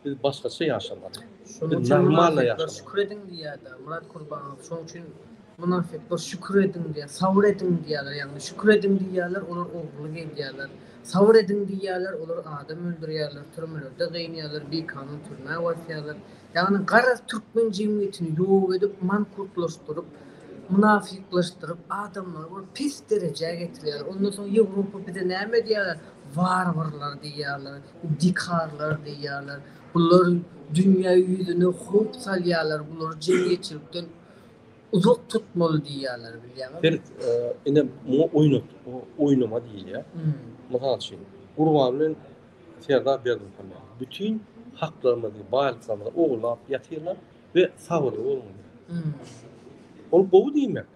Biz başgaça ýaşamaly. Şonuň üçin mynafyklar şükür ediň diýýärdi. Myrat Kurbanow şonuň üçin mynafyklar şükür ediň diýýär, sabyr ediň diýýärler. Ýagny şükür ediň diýýärler, olar ogurlyk edýärler. Sabyr ediň diýýärler, olar adam öldürýärler, türmelerde gynýarlar, bikanun türmä basýarlar. Ýagny garaz türkmen jemgyýetini ýok edip, mankurtlaşdyryp, mynafyklaşdyryp, adamlary bir pes derejä getirýärler. Ondan soň Ýewropa bize näme diýýärler? Warwarlar diýýärler. Dikarlar diýýärler. Bular dünýä ýüzüne howp salýarlar, bulary jemgyýetçilikden uzak tutmaly diýýärler, bilýäňizmi? Bir ine muňa oýnat, oýnama diýilýär. Mysal üçin, Gurban bilen Serdar Berdimuhamedow bütin haklarymyzy, baýlyklarymyzy ogurlap ýatyrlar we sabyrly boluň diýýär. Ol gowy diýmek.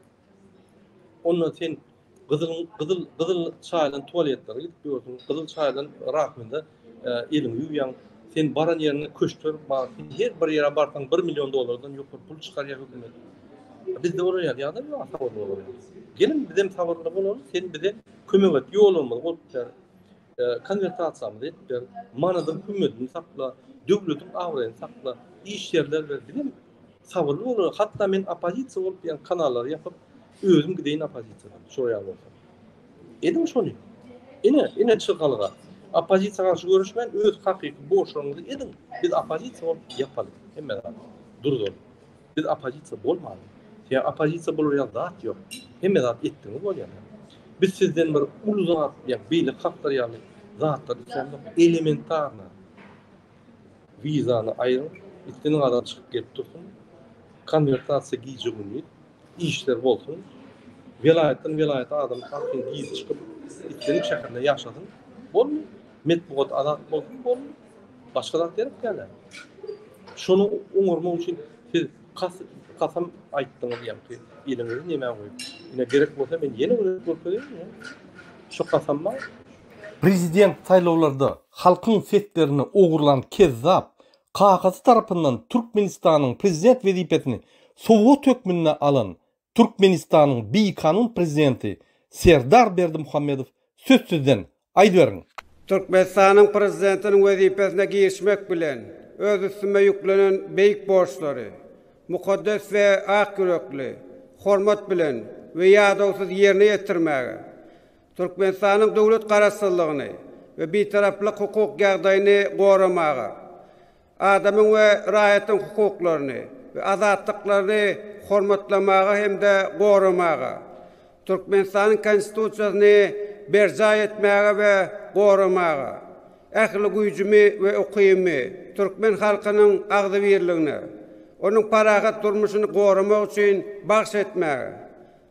Ondan sen gyzyl gyzyl gyzyl çaýylan tualetlere gidip ýörsüň, gyzyl çaýylan rakwinda e, eliňi ýuwýaň. Sen baran ýeriňde köşkler bar. Sen her bir ýere barsaň 1 million dollardan ýokary pul çykarýar hökümet. Bizde olar ýaly ýagdaý ýok, sabyrly bolalyň. Gelin biz hem sabyrly bolalyň, sen bize kömek et, ýolumyzy bolup ber. E, konwertasiýamyzy et ber. Manadyň hümmetini sakla, döwletiň abraýyny sakla. Iş ýerler ber. Biz hem Sabyrly boluň. Hatda men oppozisiýa bolup ýa kanallary ýapyp, özüm gideýin oppozisiýadan. Şo ýaly bolsa. Ediň şony. Ine, ine çykalga. Oppozisiýa garşy görüşmän, öz hakyky borçlaryňyzy ediň. Biz oppozisiýa bolup ýapalyň hemme zady. Durduryn. Biz oppozisiýa bolmalyň. Ýa oppozisiýa bolar ýa zat ýok. Hemme zat etdiňiz bolýar. Biz sizden bir uly zat, ýa beýle halklar ýaly zatlar islämok. Elementarna. Wizany aýryň, islendik adam çykyp gelip dursun. Konwertasiýa gije gündiz, işler bolsun. Welaýatdan welaýata adam akyn girip çykyp, islendik şäherde ýaşasyn. Bolmy? Metbugat azat bolsun, bolmy? Başga zat gerek däl a. Şony oňarmak üçin siz kas kasam aýtdyňyz ýaňky eliňizi nämä goýup. Ine gerek bolsa men ýene görkezeyinmi? Şu kasamma. Prezident saýlawlarda Halkyň seslerini ogurlan kezzap kakasy tarapyndan Türkmenistanyň prezident wezipesini sowgat hökmünde alan Türkmenistanyň bikanun prezidenti Serdar Berdimuhamedow sözsüzden, aýdyberiň! Türkmenistanyň prezidentiniň wezipesine girişmek bilen öz üstüme ýüklenen beýik borçlary mukaddes we ak ýürekli, hormat bilen we ýadawsyz ýerine ýetirmäge, Türkmenistanyň döwlet Garaşsyzlygyny we Bitaraplyk hukuk ýagdaýyny goramaga, adamyň we raýatyň hukuklaryny we azatlyklaryny hormatlamaga hem-de goramaga, Türkmenistanyň Konstitusiýasyny berjaý etmäge we goramaga, ähli güýjümi we ukybymy türkmen halkynyň agzybirligine, onuň parahat durmuşyny goramak üçin bagş etmäge,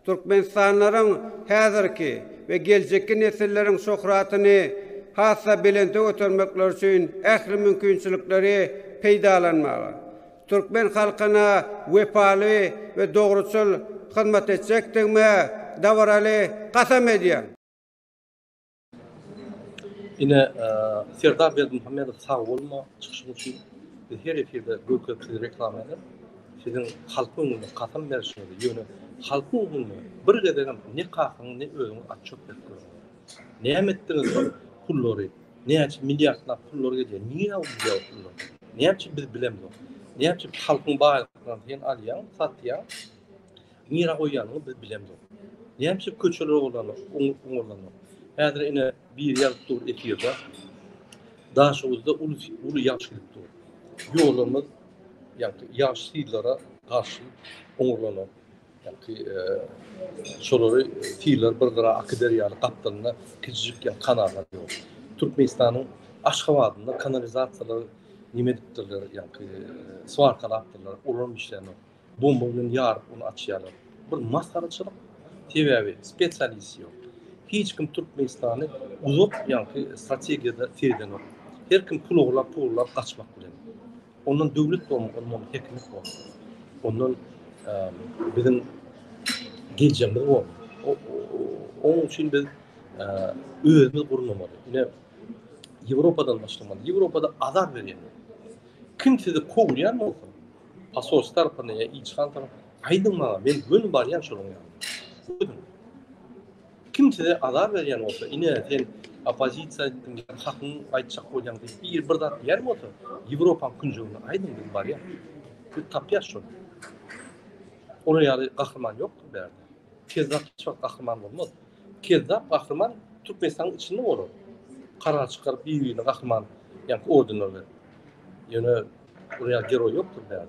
Türkmenistanlylaryň häzirki we geljekki nesilleriň şöhratyny has-da belente götermekleri üçin ähli mümkinçilikleri peýdalanmaga, türkmen halkyna wepaly we dogruçyl hyzmat etjekdigime dabaraly kasam edýän. Ine Serdar Berdimuhamedow sag bolma çykyşyň üçin. Biz her efirde görkezip sizi reklama edip siziň halk öňünde kasam berişiňizi ýöne halkyň öňünde bir gezegem ne kakaňy ne özüňi atçop berip görme. Näme etdiňiz şol pullary näçe milliardlap pullar gelýär nirä gidýär o pullar näçe biz bilemzok näçe halkyň baýlyklaryny sen alýaň satýaň Nirä goýýanyny biz bilemzok. Nämçe köçeler ogurlanok, oňurlanok. Häzir ine biri ýazyp dur efirde. Daşoguzda uly uly ýagşy gelip dur. Ýolumyz ýagty ýagşy syllara garşy oňurlanok. Ýagty e, şolary syllar bir gara Akyderýany gapdalynda kiçijik ýa kanallar ýok. Türkmenistanyň Aşgabadynda kanalizasiýalar nime edipdirler, ýagty e, swarkalapdyrlar, olar işlänok. Bomba bilen ýaryp ony açýarlar. Bir masgaraçylyk. Sebäbi spesialist ýok. Hiç kim Türkmenistany uzak ýaňky strategiýada seredenok. Her kim pul ogurlap pul ogurlap gaçmak bilen. Ondan döwlet bolmaz ondan ondan häkimiýet bolmaz. Ondan biziň geljegimiz bolmaz. Onuň üçin biz özümiz gurnamaly. Ine Ýewropadan başlamaly. Ýewropada azar berýän. Kim sizi kowýan bolsa Asos tarapynda ya ilçi han tarapynda. Aýdyň maňa, men göni barýan şonuň ýanyna. Kim size azar berýän bolsa, ine sen opozisiýa etdiň, hakyň aýtjak bolýan diýip, bir bir zat diýen bolsa, Ýewropaň künjegine aýdyň biz barýan. Biz tapýas şony. Olar ýaly gahryman ýokdur bärde. Kezzap hiç wagt gahryman bolmaz. Kezzap gahryman Türkmenistanyň içinde bolar. Karar çykaryp, bir-birine gahryman, ýa ordenler berip. Ýöne Buraya geroy yoktur beyaz.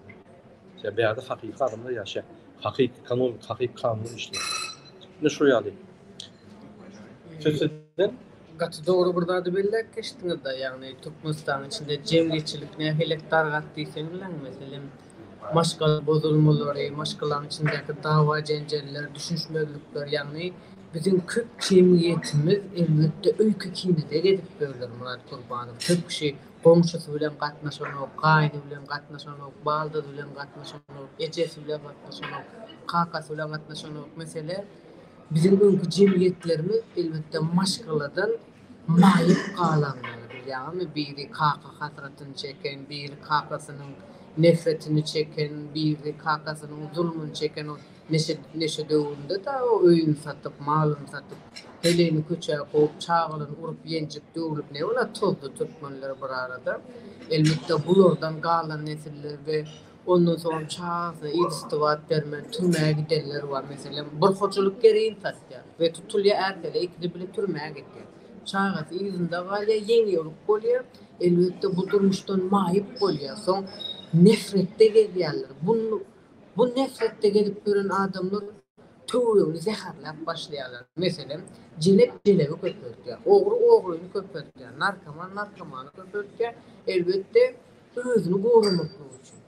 Ya beyazı hakiki adamlar yaşa. Hakiki kanun, hakiki kanun işler. Ne şu yani. Sözsüzden Gaty dogry bir zady belläp geçdiňiz da, ýagny Türkmenistanyň içinde jemgyýetçilik nähilek dargat diýseň bilen, meselem, maşgala bozulmalary, maşgalaň içindäki dawa-jenjeller, düşünişmezlikler, ýagny biziň köp jemgyýetimiz elbetde öýke-kinede gezip ýörler, Murat Kurbanow, köp kişi Goňşusy bilen gatnaşanok, gaýny bilen gatnaşanok, baldyzy bilen gatnaşanok, ejesi bilen gatnaşanok, kakasy bilen gatnaşanok. Mesele, biziň öňki jemgyýetlerimiz, elbetde, maşgaladan maýyp galanlar. Bilýäňizmi, biri kaka hasratyny çeken, biri kakasynyň nefretini çeken, biri kakasynyň zulmuny çeken. Neşe döwründe dagy öýüni satyp, malyny satyp, heleýini köçä kowup, çagalaryny urup-ýenjip, döwlüp ne bolar? Tozdy türkmenler bir arada. Elbetde, bulardan galan nesiller we ondan soňam çagasyna yzysty-bat bermän türmä gidenler bar. Meselem, bir hojalyk gereýin satýar we tutulýar, ärseri ikisi bile türmä gidýär. Çagasy yzynda galýar, ýeňiýoglyk bolýar. Elbetde, bu durmuşdan maýyp bolýar. Soň nefretde gezýärler. Bun Bu näsletde gezip ýören adamlar töweregini zäherläp başlaýarlar. Meselem, jelep jelebi köpeltýär, ogry ogryny köpeltýär, narkoman narkomany köpeltýär, elbetde, özüni goramaklygy üçin.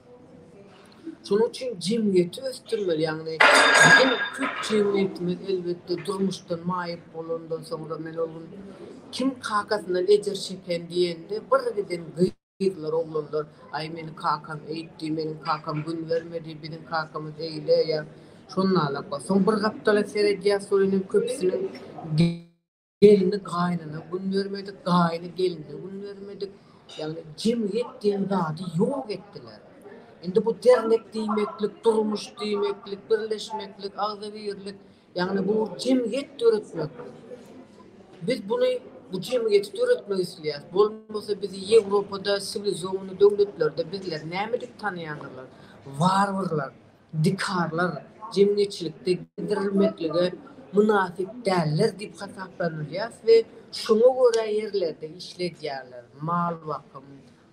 Şonuň üçin jemgyýeti ösdürmeli, ýagny biziň köp jemgyýetimiz, elbetde, durmuşdan maýyp bolandan soňra, men ol gün kim kakasyndan ejir çeken diýende, birgiden gyýyp. Gyzlar, oglanlar, Aý, meni kakam eýtdi, meniň kakam gün bermedi, biziň kakamyz eýle, ýa şondalyk. Soň bir gapdala seredýär, şol inem köpüsiniň Gelni gaýnana gün bermedik, gaýny gelne gün bermedik. Ýagny jemgyýet diýen zady ýok etdiler. Indi bu dernek diýmeklik, durmuş diýmeklik, birleşmeklik, agzybirlik. Ýagny bu jemgyýet döretmek. Biz buny bu jemgyýeti döretmek isleýäris. Bolmasa bizi Ýewropada siwilizowany döwletlerde bizleri näme diýip tanaýandyrlar? Warwarlar, dikarlar, jemgyýetçilikde gizdirilmeklige mynasyp däller diýip hasaplanylýas we şoňa görä ýerlerde işledýärler. Mal bakym,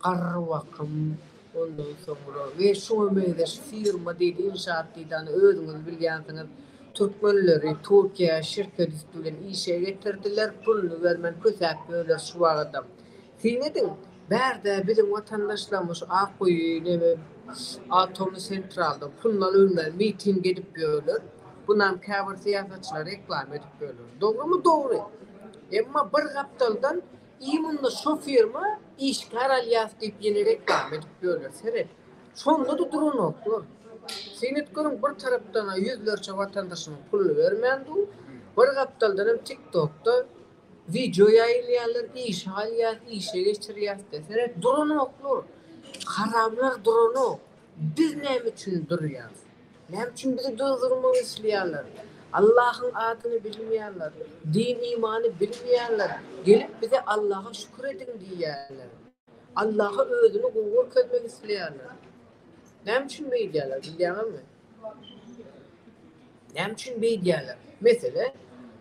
Garrybakym, ondan soňra we şuňa meňzeş firma diýdi, ynşaat diýdi, ony özüňiz bilýänsiňiz. Türkmenleri Türkiýä şirket üsti bilen işe getirdiler, puluny bermän kösäp ýörler şu wagadam. Syn ediň, bärde biziň watandaşlarymyz şu Akguýy neme Atomy sentralda puluna ölmez miting edip ýörler. Bunam käbir syýasatçylar reklama edip ýörler. Dogrymy? Dogry. Emma bir gapdaldan Iý munda şo firma işgär alýas diýip ýene reklama edip ýörler seret. Şondada duranoklar. Syn et görüň bir tarapdana ýüzlerçe watandaşymyz puluny bermän dur, bir gapdaldanam tik tokda wideo ýaýylýarlar işe alýas işe geçirýas diýip seret duranoklar. Haramlar duranok. Biz näme üçin durýarys? Näme üçin bizi durdurmak isleýärler? Allahyň adyny bilmeýärler, din-imany bilmeýärler, gelip bize Allaha şükür ediň diýýärler. Allaha özüni gowy görkezmek isleýärler. Näme üçin beýdýärler, bilýäňizmi? Näme üçin beýdýärler? Mesele,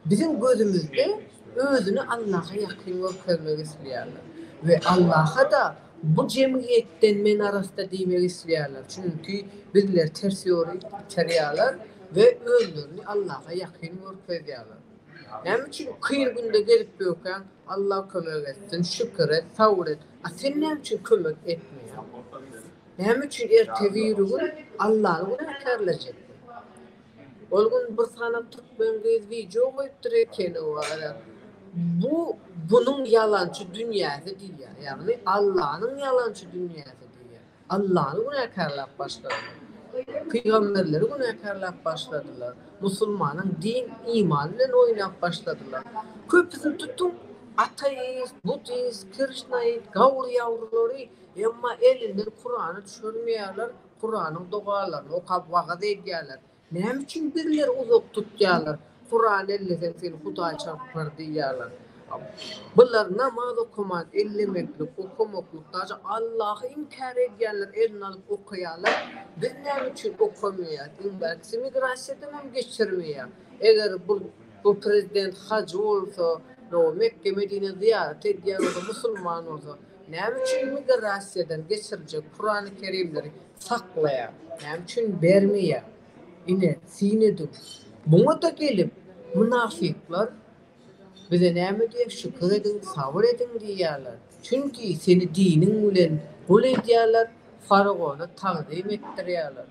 biziň gözümizde özüni Allaha ýakyn görkezmek isleýärler we Allaha-da bu jemgyýetden men arassa diýmek isleýärler, çünki bizleri ters ýola itarýarlar we özlerini Allaha ýakyn görkezýärler. Näme üçin kyn günde gelip böwkäň, Alla kömek etsin, şükür et, sabr et, a sen näme üçin kömek etmeýäň? Näme üçin ertebiri gün Allany günäkärlejekdi? Ol gün bir sany türkmen gyz wideo goýupdyr ekeni wara. Bu bunuň ýalançy dünýäsi diýýär. Ýagny Allanyň ýalançy dünýäsi diýýär. Allany günäkärläp başladylar. Pygamberleri günäkärläp başladylar. Musulmanyň din iman bilen oýnap başladylar. Köpüsini tutuň ateist, budist, krişnaid, gawur ýawrulary. Emma elinden Kurany düşürmeýärler, Kuranyň dogalaryny okap wagyz edýärler. Näme üçin birleri uzak tutýarlar, Kurany elleseň seni Hudaý çarpar diýýärler. Bular namaz okaman, ellemeklik, okamaklyk, daşy Allahy inkär edýänler eline alyp okaýarlar. Biz näme üçin okamaýas? Iň bärkisi migrasiýadan hem geçirmeýär. Eger bu bu prezident hajy bolsa, Mekge-Medinä zyýarat edýän bolsa, musulman bolsa, Näme üçin migrasiýadan geçiriljek Kurany Kerimleri saklaýar? Näme üçin bermeýär? Ine, syn ediň. Muňa-da gelip, mynafyklar Bize näme diýer? Şükür ediň, sabyr ediň diýýärler. Çünki seni diniň bilen gul edýärler, faraona tagzym etdirýärler.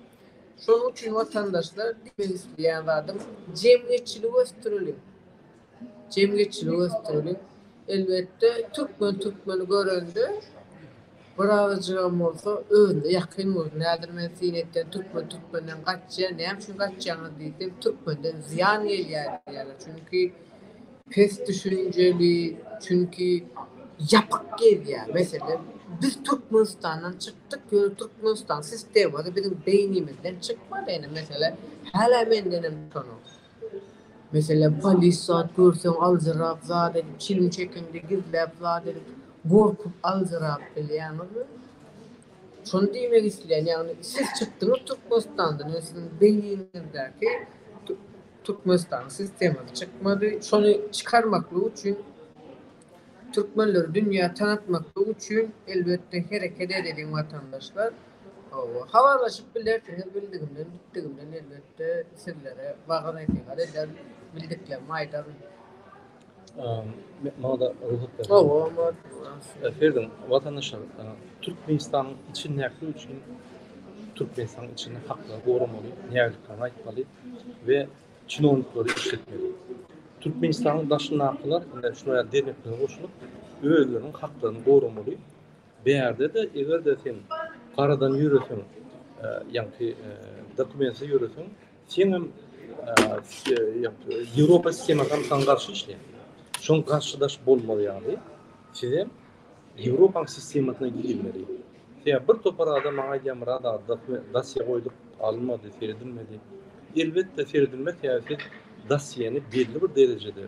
Şonuň üçin, watandaşlar, diýmek isleýän zadym, jemgyýetçiligi ösdüreliň. jemgyýetçiligi ösdüreli. Elbetde, türkmen türkmeni görende, bir agajygam bolsa özüne ýakyn bolsun. Häzir men syn etseň, türkmen türkmenden gaçýar, näme üçin gaçýaňyz diýseň, türkmenden zyýan gelýär diýýärler. Çünki pes düşünjeli, çünki ýapyk gezýär. Meselem, biz Türkmenistandan çykdyk, ýöne Türkmenistan sistemasy biziň beýnimizden çykmady. Ine, meselem, hälä mendenem utanok. Meselem, polis zat görseň aljyrap zat edip, çilim çekeňde gizläp zat edip, gorkup aljyrap bilýäňizmi? Şony diýmek isleýän, ýagny siz çykdyňyz Türkmenistandan, ýöne siziň beýniňizdäki Türkmenistanyň sistemasy çykmady. Şony çykarmaklyk üçin, türkmenleri dünýä tanatmaklyk üçin elbetde hereket edeliň watandaşlar. Hawa, habarlaşyp bilersiňiz, bildigimden, gitdigimden elbetde sizlere wagyz-nesihat ederin, bildiklerimi aýdaryn. Maňada rugsat ber. Hawa, maňada. Ferden, watandaşlar, Türkmenistanyň içi nähili üçin Türkmenistanyň içini hakda goramaly, nägiliklerini aýtmaly we çinowniklary işletmeli. Türkmenistanyň daşyndakylar, indi şular ýaly derneklere goşulyp, özleriniň haklaryny goramaly. Bärde-de, eger-de sen paradan ýöreseň, ýagny dokumentsiz ýöreseň, seň hem Ýewropa sistemasy hem saňa garşy işleýär. Şoň garşydaş bolmaly ýaly, siz hem Ýewropanyň sistemasyna girmeli. Sebäbi bir topar adam maňa aýdýar, Myrat aga, dosýe goýduk, alynmady, seredilmedi. Elbetde, seredilmez, sebäbi siz dosýeni belli bir derejede,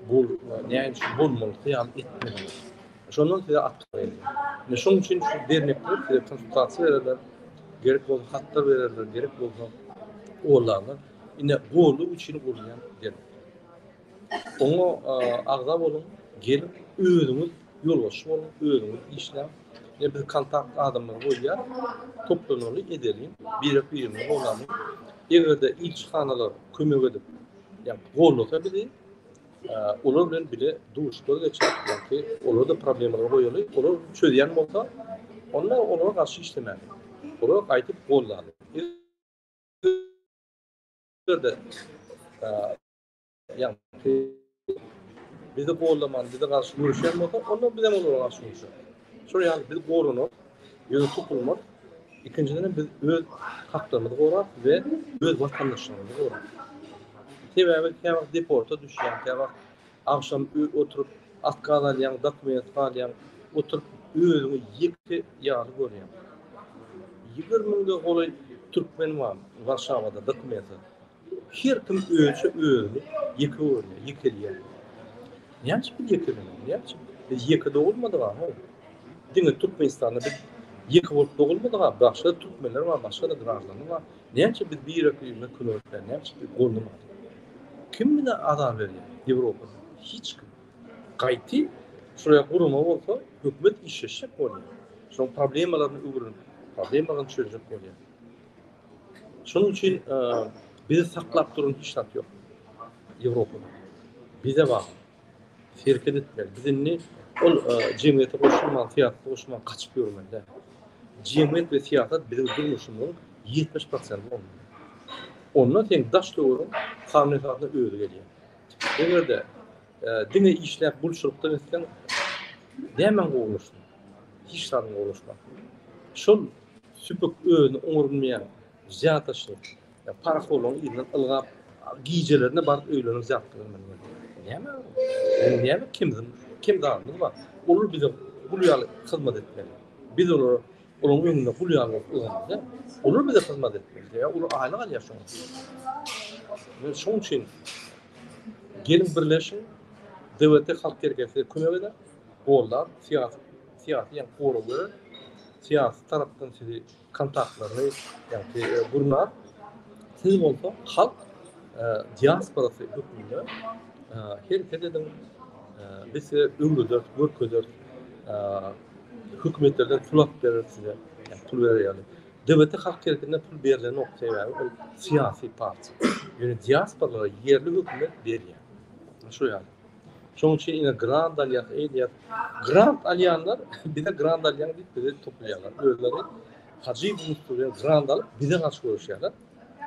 bu näme üçin bolmalyk ýaly etmediňiz. Şondan size at berýär. Ine şonuň üçin şu dernekler size konsultasiýa bererler, gerek bolsa hatlar bererler, gerek bolsa olarlar. Ine golluk üçin gurulýan dernek. Oňa agza boluň, gelin özüňiz ýolbaşçy boluň, özüňiz işläň. Ine biz kontakt adamlary goýýar. Toplanaly edeliň, birek-birimizi goldanyň. Eger-de ilçihanalar kömek edip, ýa gollasa bizi, Olar bilen bile duşuşlar geçip, çünki olar da problemleri goýaly, olar çözýän bolsa, onda olara garşy işlemäli. Olar gaýdyp gollaly. Bizde ýa bizi gollaman, bize garşy göreşýän bolsa, onda biz hem olara garşy göreşeris. Şol ýaly biz goranak, ýüze tutulmak, ikinjiden hem biz öz haklarymyzy gorap we öz watandaşlarymyzy gorap. Sebäbi käwagt deporta düşýäň, käwagt agşam oturyp atkaz alýaň, dokument galýaň, oturyp özüňi ýeke ýaly görýäň. Ýigrimi müňden golaý türkmen bar Warşawada dokumentsiz. Her kim özçe özüni ýeke görýär, ýekelýär. Näme üçin biz ýekelenýäs? Näme üçin? Biz ýeke dogulmadyk aho. Diňe Türkmenistanda biz ýeke bolup dogulmadyk aho. Başga türkmenler bar, başga-da graždanlar bar. Näme üçin biz birek-birege kömekleýär? Näme üçin biz goldaýar? Kim bize azar berýär? Ýewropa. Hiç kim. Gaýty şuraya gurama bolsa, hökümet işleşjek bolýar. Şoň problemalaryny öwrenip, problemalaryny çözjek bolýar. Şonuň üçin bizi saklap duran hiç zat ýok. Ýewropada. Bize bar. Hereket etmeli. Biz indi ol jemgyýete goşulman, syýasata goşulman gaçyp ýörmeli däl. Jemgyýet we syýasat biziň durmuşymyzyň ýetmiş prosenti bolmaly. Onda seň daş-töweregiň kanun esasynda özi gelýär. Eger-de Diňe işläp gulçulykdan etseň, nämäň gowulaşdy? Hiç zadyň gowulaşmady. Şol süpük özüni oňar bilmeýän zýataşyr, parahorlaryň yzyndan ylgap, gijelerine baryp öýlerine zýat gelen Näme? Biziň näme kemimiz, kem zadymyz bar? Olar bize gul ýaly hyzmat etmeli. Biz olara Olaryň öňünde gul ýaly ýörmeli. Olar bize hyzmat etmeli. Olar aýlyk alýar şoň üçin. Şoň üçin gelin birleşiň, DWT halk hereketi kömek eder, gollap, syýasy syýasy ýa gora göre syýasy tarapdan sizi kontaktlaryny ýa-da e, gurnap, siz bolsa halk e, diasporasy hökmünde e, hereket ediň, biz size öwreder, görkezer, hökümetlerden pul alyp berer size pul berer ýaly dwt halk hereketinden pul berilenok sebäbi ol syýasy partiýa ýöne diasporalara ýerli hökümet berýär şo ýaly şonuň üçin ine grant alýar eýdýär grant alýanlar bize grant alýan diýip bizi toplaýarlar özleri hajy bilen grant alyp bize garşy göreşýärler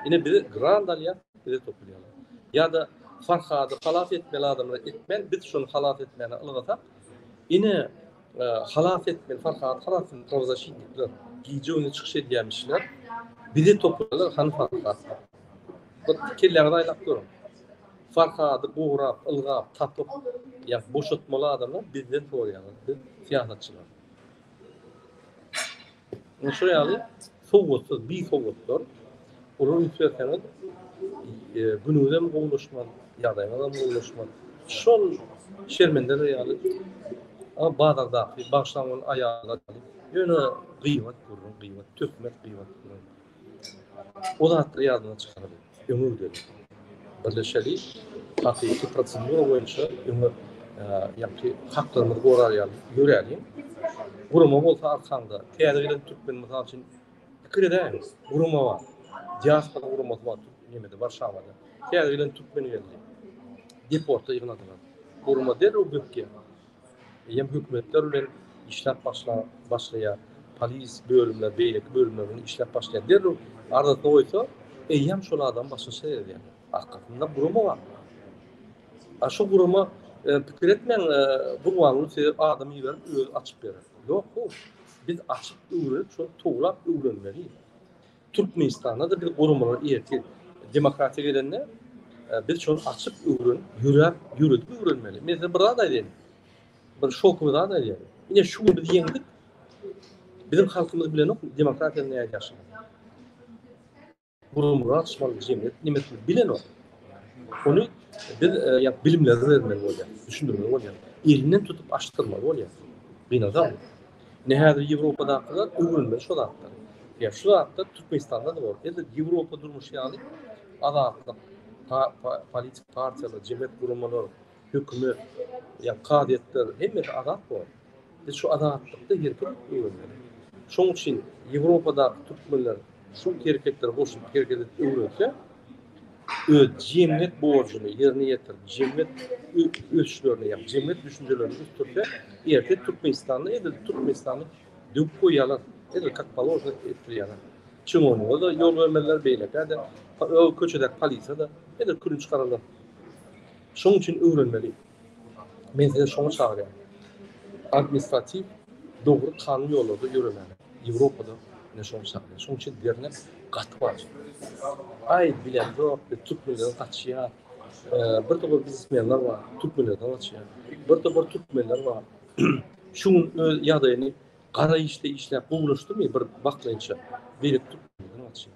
ine bize grant alýar bize toplaýarlar ýa-da farhady halas etmeli adamlar etmeli biz şony halas etmäne ylgasak Ine, halas etmeli, Farhady halas etmeli, prawozaşitnikler, gije güni çykyş edýänmişler, bizi topladylar, hany Farhad? Bir kelläňizi aýlap görüň. Farhady gurap, ylgap, tapyp, ýa boşatmaly adamlar bizden soraýarlar, biz syýasatçylar. Indi şu ýaly sowatsyz, bisowatlar olar üýtgetseňiz e, günüňiz hem gowulaşmaz, ýagdaýyňyz hem gowulaşmaz. Şol şermendeler ýaly bazardaky bagşlaň ol aýala ýöne gyýbat gurrun, gyýbat töhmet, gyýbat gurrun. O zatlar ýadyňdan çykaryň. Öňe gideliň. Birleşeli. Hakyky prosedura boýunça öňe ýagty haklarymyzy gorar ýaly ýöräliň. Gurama bolsa arkaňda. Täze gelen türkmen mysal üçin pikir edäýiň. Gurama bar. Diaspora guramasy bar nemede Warşawada. Täze gelen türkmen geldi. Deporta ýygnadylar. Gurama derrew bökýär. Eýýäm hökümetler bilen işläp başlan başlaýar. Polis bölümler, beýleki bölümler bilen işläp başlaýar. Derrew arzasyny goýsa, eýýäm şol adam başga seredýär. Arkasynda gurama bar. A şu gurama e, pikir etmäň, e, gurbanlyk size adam iberip özi açyp berer. Ýok, bu biz açyp öwrenip, şol towlap öwrenmeli. Türkmenistanda-da bir guramalar irki demokratiýa gelende e, biz şony açyp öwren, ýöräp, ýöredip öwrenmeli. Men size bir zat aýdaýyn. Bir şokuny zat aýdaýyn. Ine şu gün biz ýeňdik. Biziň halkymyz bilen ok demokratiýa näýe ýaşy. Guramalar açmaly jemgyýet nimesini bilen ok. Ony biz e, ýa bilimleri bermeli bolýar, düşündirmeli bolýar. Elinden tutup açdyrmaly bolýar. Binada Ine häzir Ýewropadakylar öwrenmeli şo zatlary. Ýa şu zatlar Türkmenistanda-da bar. Edil Ýewropa durmuşy ýaly azatlyk, politik partiýalar, jemgyýet guramalar, hökümet, ýa kazyýetler hemmesi azat bor. Biz şu azatlykda herkim öwrenmeli. Şoň üçin Ýewropadaky türkmenler Şul hereketleri goşulyp hereket edip öwrense, öz jemgyýet borjuny ýerine ýetirip, jemgyýet ösüşlerini, ýa jemgyýet düşünjelerini ösdürse, erte Türkmenistanda edil Türkmenistany döwüp goýýarlar, edil kak paložno etdirýärler. Çyňonuga da ýol bermezler, beýlekä-de, köçedäki polisiýa-da edil külünç gararlar. Şonuň üçin öwrenmeli. Men sizi şoňa çagyrýan. Administratiw dogry kanun ýollarda ýöremäne. Ýewropada ine şoňa çagyrýan. Şoň üçin dernek gaty wajyp. Aý bilemzok biz türkmenlerden gaçýas. Birde bir biznesmenler bar türkmenlerden gaçýar. Birde bir türkmenler bar. Şu gün öz ýagdaýyny gara işde işläp gowulaşdymy bir wakleýinçe. Beýleki türkmenlerden gaçýar.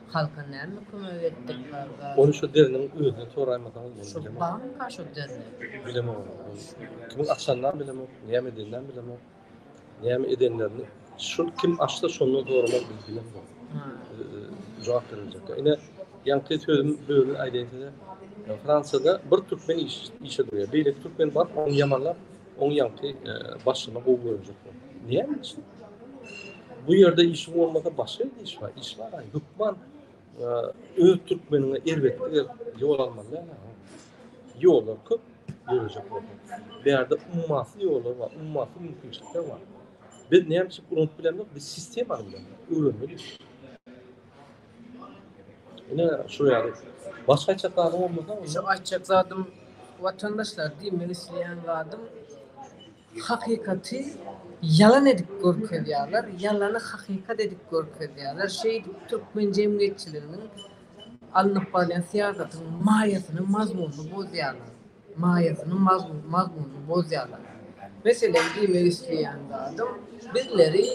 Halka näme kömek etdik barga. Ony şu deriniň özünden soraýmasaňyz boldy bilemok. Şu banka şu derini. Bilemok ony. Kimiň açanynam bilemok, näme edeninem bilemok. Näme edenlerini şul kim açsa şondan soramaly biz bilemok. Jogap beriljek. Ine ýaňky sözüm bölüp aýdaýyn size. Fransiýada bir türkmen işe durýar. Beýleki türkmen baryp ony ýamanlap Oň ýaňky başyny gowy görjek bol. Näme üçin? Bu ýerde işi bolmasa başga ýerde iş bar. Iş bar. Hökman öz türkmeniňe erbet ýol almaly däl. Ýollar köp görjek bol. Bu ýerde ummasy ýollar bar. Ummasy mümkinçilikler bar. Biz näme üçin unup bilemok? Biz sistemany bilemok. Öwrenmeli. Ine şu ýaly. Başga aýtjak zadyň bolmasa? Şu aýtjak zadym watandaşlar diýip men isleýän zadym hakykaty ýalan edip görkezýärler, ýalany hakykat edip görkezýärler. Şeýdip türkmen jemgyýetçiliginiň alnyp barýan syýasatynyň maýasyny, mazmunyny bozýarlar. maýasynyň mazmunyny bozýarlar. Meselem, diýmek isleýän zadym, bizleri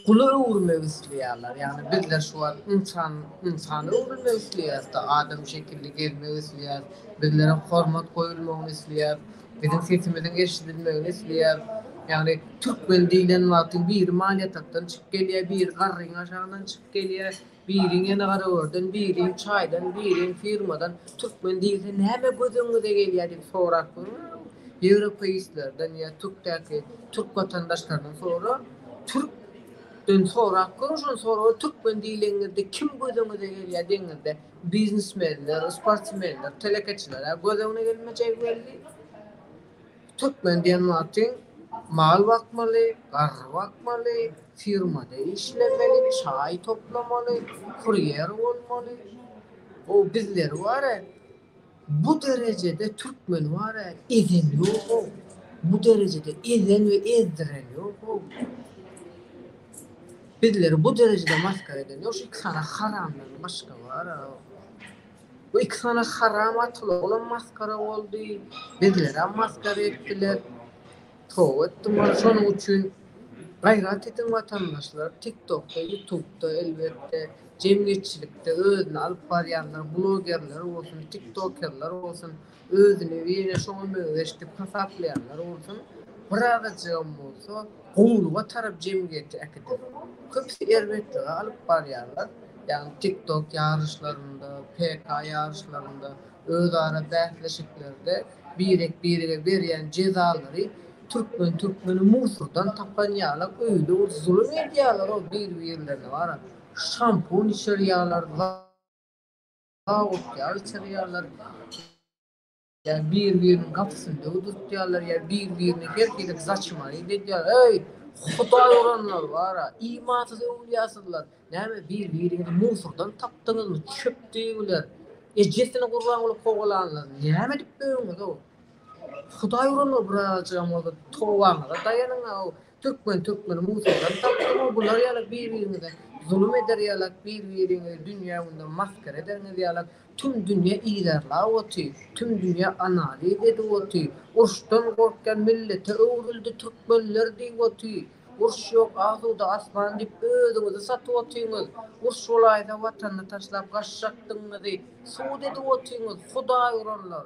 gula öwürmek isleýärler. Ýagny bizler şu wagt ynsan, ynsana öwrülmek isleýäris-de, adam şekilli gezmek isleýäris, bizlere hormat goýulmagyny isleýäris, biziň sesimiziň eşidilmegini isleýäris. Ýagny türkmen diýlen wagty biri malýatakdan çykyp gelýär, biri garryň aşagyndan çykyp gelýär. Biriň ýene garagörden, biriň çaýdan, biriň firmadan türkmen diýilse näme göz öňüňize gelýär diýip sorap görüň. Ýewropeistlerden ýa türkdäki türk watandaşlaryndan sora. Türk den sorap görüň şony soraga türkmen diýleňizde kim göz öňüňize gelýär deňizde biznesmenler sportsmenler telekeçiler göz öňüne gelmejegi belli. Türkmen diýen wagty mal bakmaly, garry bakmaly, firmada işlemeli, çaý toplamaly, kurýer bolmaly. O bizleri wara bu derejede türkmeni wara ezen ýogo. Bu derejede ezen we ezdiren ýogo. Bizleri bu derejede masgara eden ýok. Şu iki sany haramdan başga wara. Bu iki sany haram atylygam masgara boldy. Bizlerem masgara etdiler. Toba etdim bar şonuň üçin. Gaýrat ediň watandaşlar. Tiktokda, ýutubda elbetde jemgyýetçilikde özüni alyp barýanlar, blogerler bolsun, tiktokerler bolsun. Özüni ýene şoňa meňzeş dik hasaplaýanlar bolsun, birazajygam bolsa gowulyga tarap jemgyýeti äkider. Köpüsi erbetlige alyp barýarlar, ýagny TikTok ýaryşlarynda, PK ýaryşlarynda, özara bäsleşiklerde birek-birege berýän jezalary türkmen türkmeni mursurdan tapan ýala öýle bir zulum edýärler-ow bir-birlerine wara şampun içirýärler, Gawuk ýaly çyrýarlar. Ýa bir-biriniň gapysyny döwdürtýärler, ýa bir-birine her hili zaçmaýyp edýärler. Eý, hudaý uranlar bar-a, imansyz öwlüýasyzlar! Näme, bir-biriňizi musurdan tapdyňyzmy, çöp diýibiler? Ejesini gurban bolup kowalanlar, näme edip döwüňiz-ow? Hudaý uranlar, birazajygam bolsa tobaňyza daýanyň-ow! Türkmen türkmeni musaldan tapsaňyz bular ýaly bir biriňize zulum eder ýalak bir biriňizi dünýä gündem masgara ederňiz ýalak tüm dünýä yzarlap oty tüm dünýä analiz edip oty urşdan gorkýan millete öwrüldi türkmenler diýip oty urş ýok asuda asman diýip özüňizi satyp otyňyz urş bolaýsa watanyny taşlap gaçjakdygyňyzy sud edip otyňyz hudaý uranlar.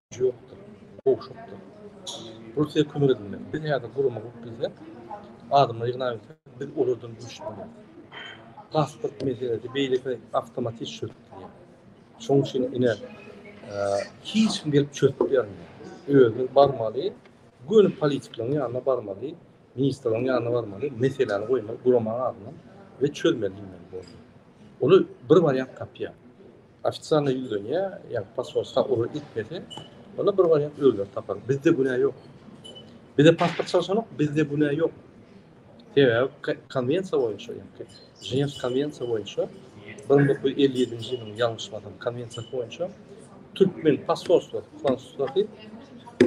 ýokdur, gowşakdyr. Russiýa kömek edilmeli. Biz häzir gurama gurup bilsek, adamlary ýygnap bilsek, biz olardan güýçli bolarys. Pasport meselesi beýleki awtomatik çözülýär. Şonuň üçin ine hiç kim gelip çözüp bermeli. Özümiz barmaly, göni politiklaryň ýanyna barmaly, ministrleriň ýanyna barmaly, meseläni goýmaly, gurama adyna we çözmeli diýmeli. Olu bir wariant tapýar. Ofisialna ýüzlenýär, ýa pasport sag ol etmese, onda bir wariant özleri tapar. Bizde günä ýok. Bizde pasport çalşanok, bizde günä ýok. Sebäbi konwensiýa boýunça, ýa-da Ženewski konwensiýa boýunça 1957-nji ýylyň ýalňyşmasam konwensiýasy boýunça türkmen pasportlar, fransuzdaky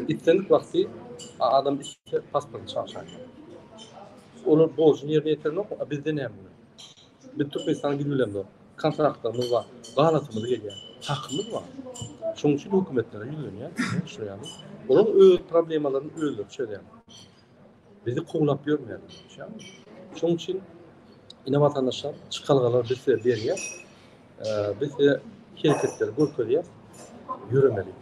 islendik wagty adam üstüne pasport çalşaýýar. Olar borjuny ýerine ýetirmek, a bizde näme? Biz Türkmenistana gidip bilemzok. Kontraktlarymyz bar. Galatymyz gelýär. Hakymyz bar. Şonuň üçin hökümetlere ýüzlenýäris. Düşünýäňmi? Olar öz problemalaryny özleri çözýärler. Bizi kowlap ýörmeýärler. Düşünýäňmi? Şonuň üçin ine watandaşlar çykalgalar biz size berýär. Biz size hereketleri görkezýär. Ýöremeli.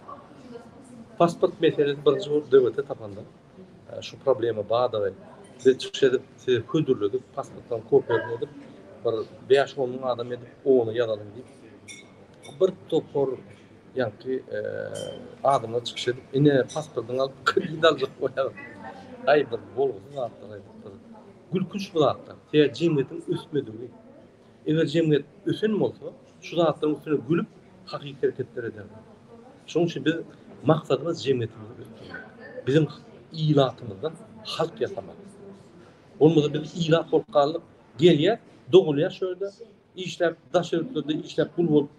Pasport meselesi birinji bolup döwlete tapanda. Şu problema badagy biz çykyş edip size hödürledik pasportdan kopiýasyny edip bir bäş on müň adam edip oňa ýazalyň diýip bir topar ýaňky e, adamlar çykyş edip ine pasportyňy alyp kredit aljak bolýar. Aý bir bolgusyz zatlar aýdypdyr. Gülkünç bu zatlar. Tä jemgyýetiň ösmedigi. Eger jemgyýet ösen bolsa, şu zatlaryň üstüne gülüp, hakyky hereketler ederdi. Şonuň üçin biz maksadymyz jemgyýetimizi ösdürmek. Biziň ilatymyzdan halk ýasamak. Bolmasa biz ilat bolup galdyk. Gelýär, dogulýar şu ýerde, işläp, daş ýurtlarda işläp gul bolup,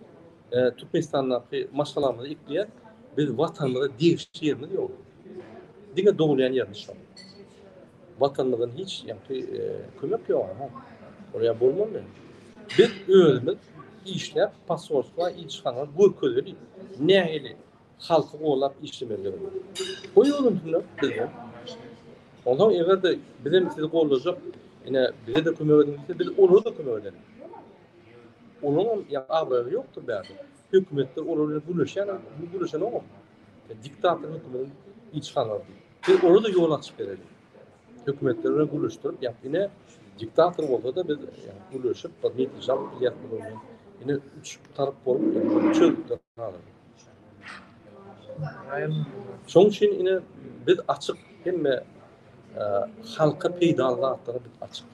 e, Türkmenistandaky maşgalamyzy ekleýär. Biz watanymyza degişli ýerimiz ýok. Diňe dogulýan ýerimiz şol. Watanymyzdan hiç ýakdy kömek ýok ha. Oraya bolmaly. Biz özümiz işläp pasolstwa ilçihana görkezeli. Nähili halky golap işlemelidigini. Goý öwrensinler bizden. Ondan eger-de biz hem sizi gollajak, ine bize de kömek ediň diýse, biz olara da kömek ederis. Olaryň ýa abraýy ýokdur bärde. Hökümetler olar bilen gürleşýärler, gürleşen ogam. Diktator hökümetiň ilçihanalary. Biz ola-da ýol açyp bereli. Hökümetler bilen gürleşdirip, ýa ine diktator bolsa-da biz gürleşip, bir netije alyp bilýäs bu ýoldan. Ine üç tarap bolup, çözüpler hazir. Şoň üçin ine biz açyk hemme halka peýdaly zatlara biz açyk.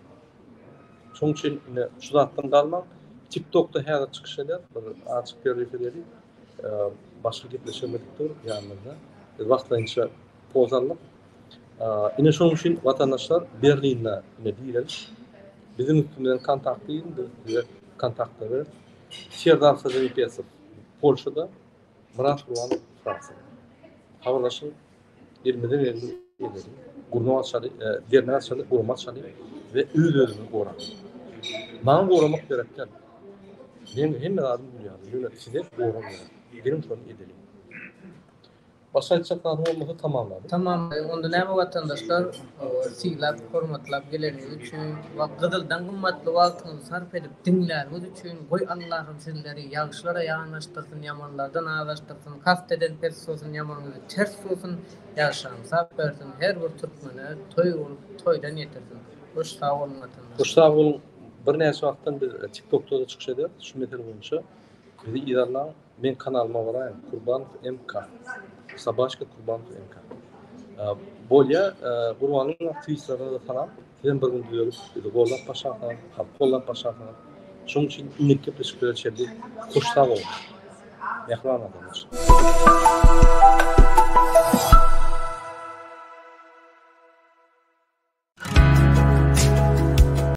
Şoň üçin ine şu zatdan galmaň. TikTokda häzir çykyş eder, bir açyk görüş edeli. Başga gepleşemedik dur ýanymyzda. Biz wagtlaýynça poz aldyk. Ine şonuň üçin watandaşlar Berlinde ine diýeris. Biziň üstümizden kontakt diýin, biz size kontaktda ber. Serdar Sazenpesow Polşada, Myrat Gurban Fransiýada. Habarlaşyň, Elimize geldi edeli. Gurma açaly, e, dernek açaly, gurma açaly we öz-özüňi gora. Maňa goramak gerekden. Men hemme zadymy bilýärin. Ýöne size gorak gerek. Geliň şony edeli. Başga aýtjak zadyň bolmasa tamamladyk. Tamam, onda näme watandaşlar? Sylap, hormatlap geleniňiz üçin we gyzyldan gymmatly wagtyňyzy sarp edip diňläniňiz üçin goý Allahym sizleri ýagşylara ýanaşdyrsyn ýamanlardan azaşdyrsyn kast eden pes suwsyn ýamanyňyzy ters suwsyn ýagşyňy sap bersin her bir türkmene toý bolup toýdan ýetirsin goş sag boluň watandaşlar. Goş sag boluň birnäçe wagtdan biz tiktokda-da çykyş ederis şu mesele boýunça bizi yzarlaň. Meň kanalyma baraýyň Kurbanov MK. Sabaşka Kurbanov MK. Bolýa Gurbanyň aktiwistlerine de salam. Sizem bir gün düzelip bizi gollap başarsyňyz, halk gollap başarsyňyz. Şoň üçin innik gepleşiklere çenli hoş sag boluň. Mähriban adamlar.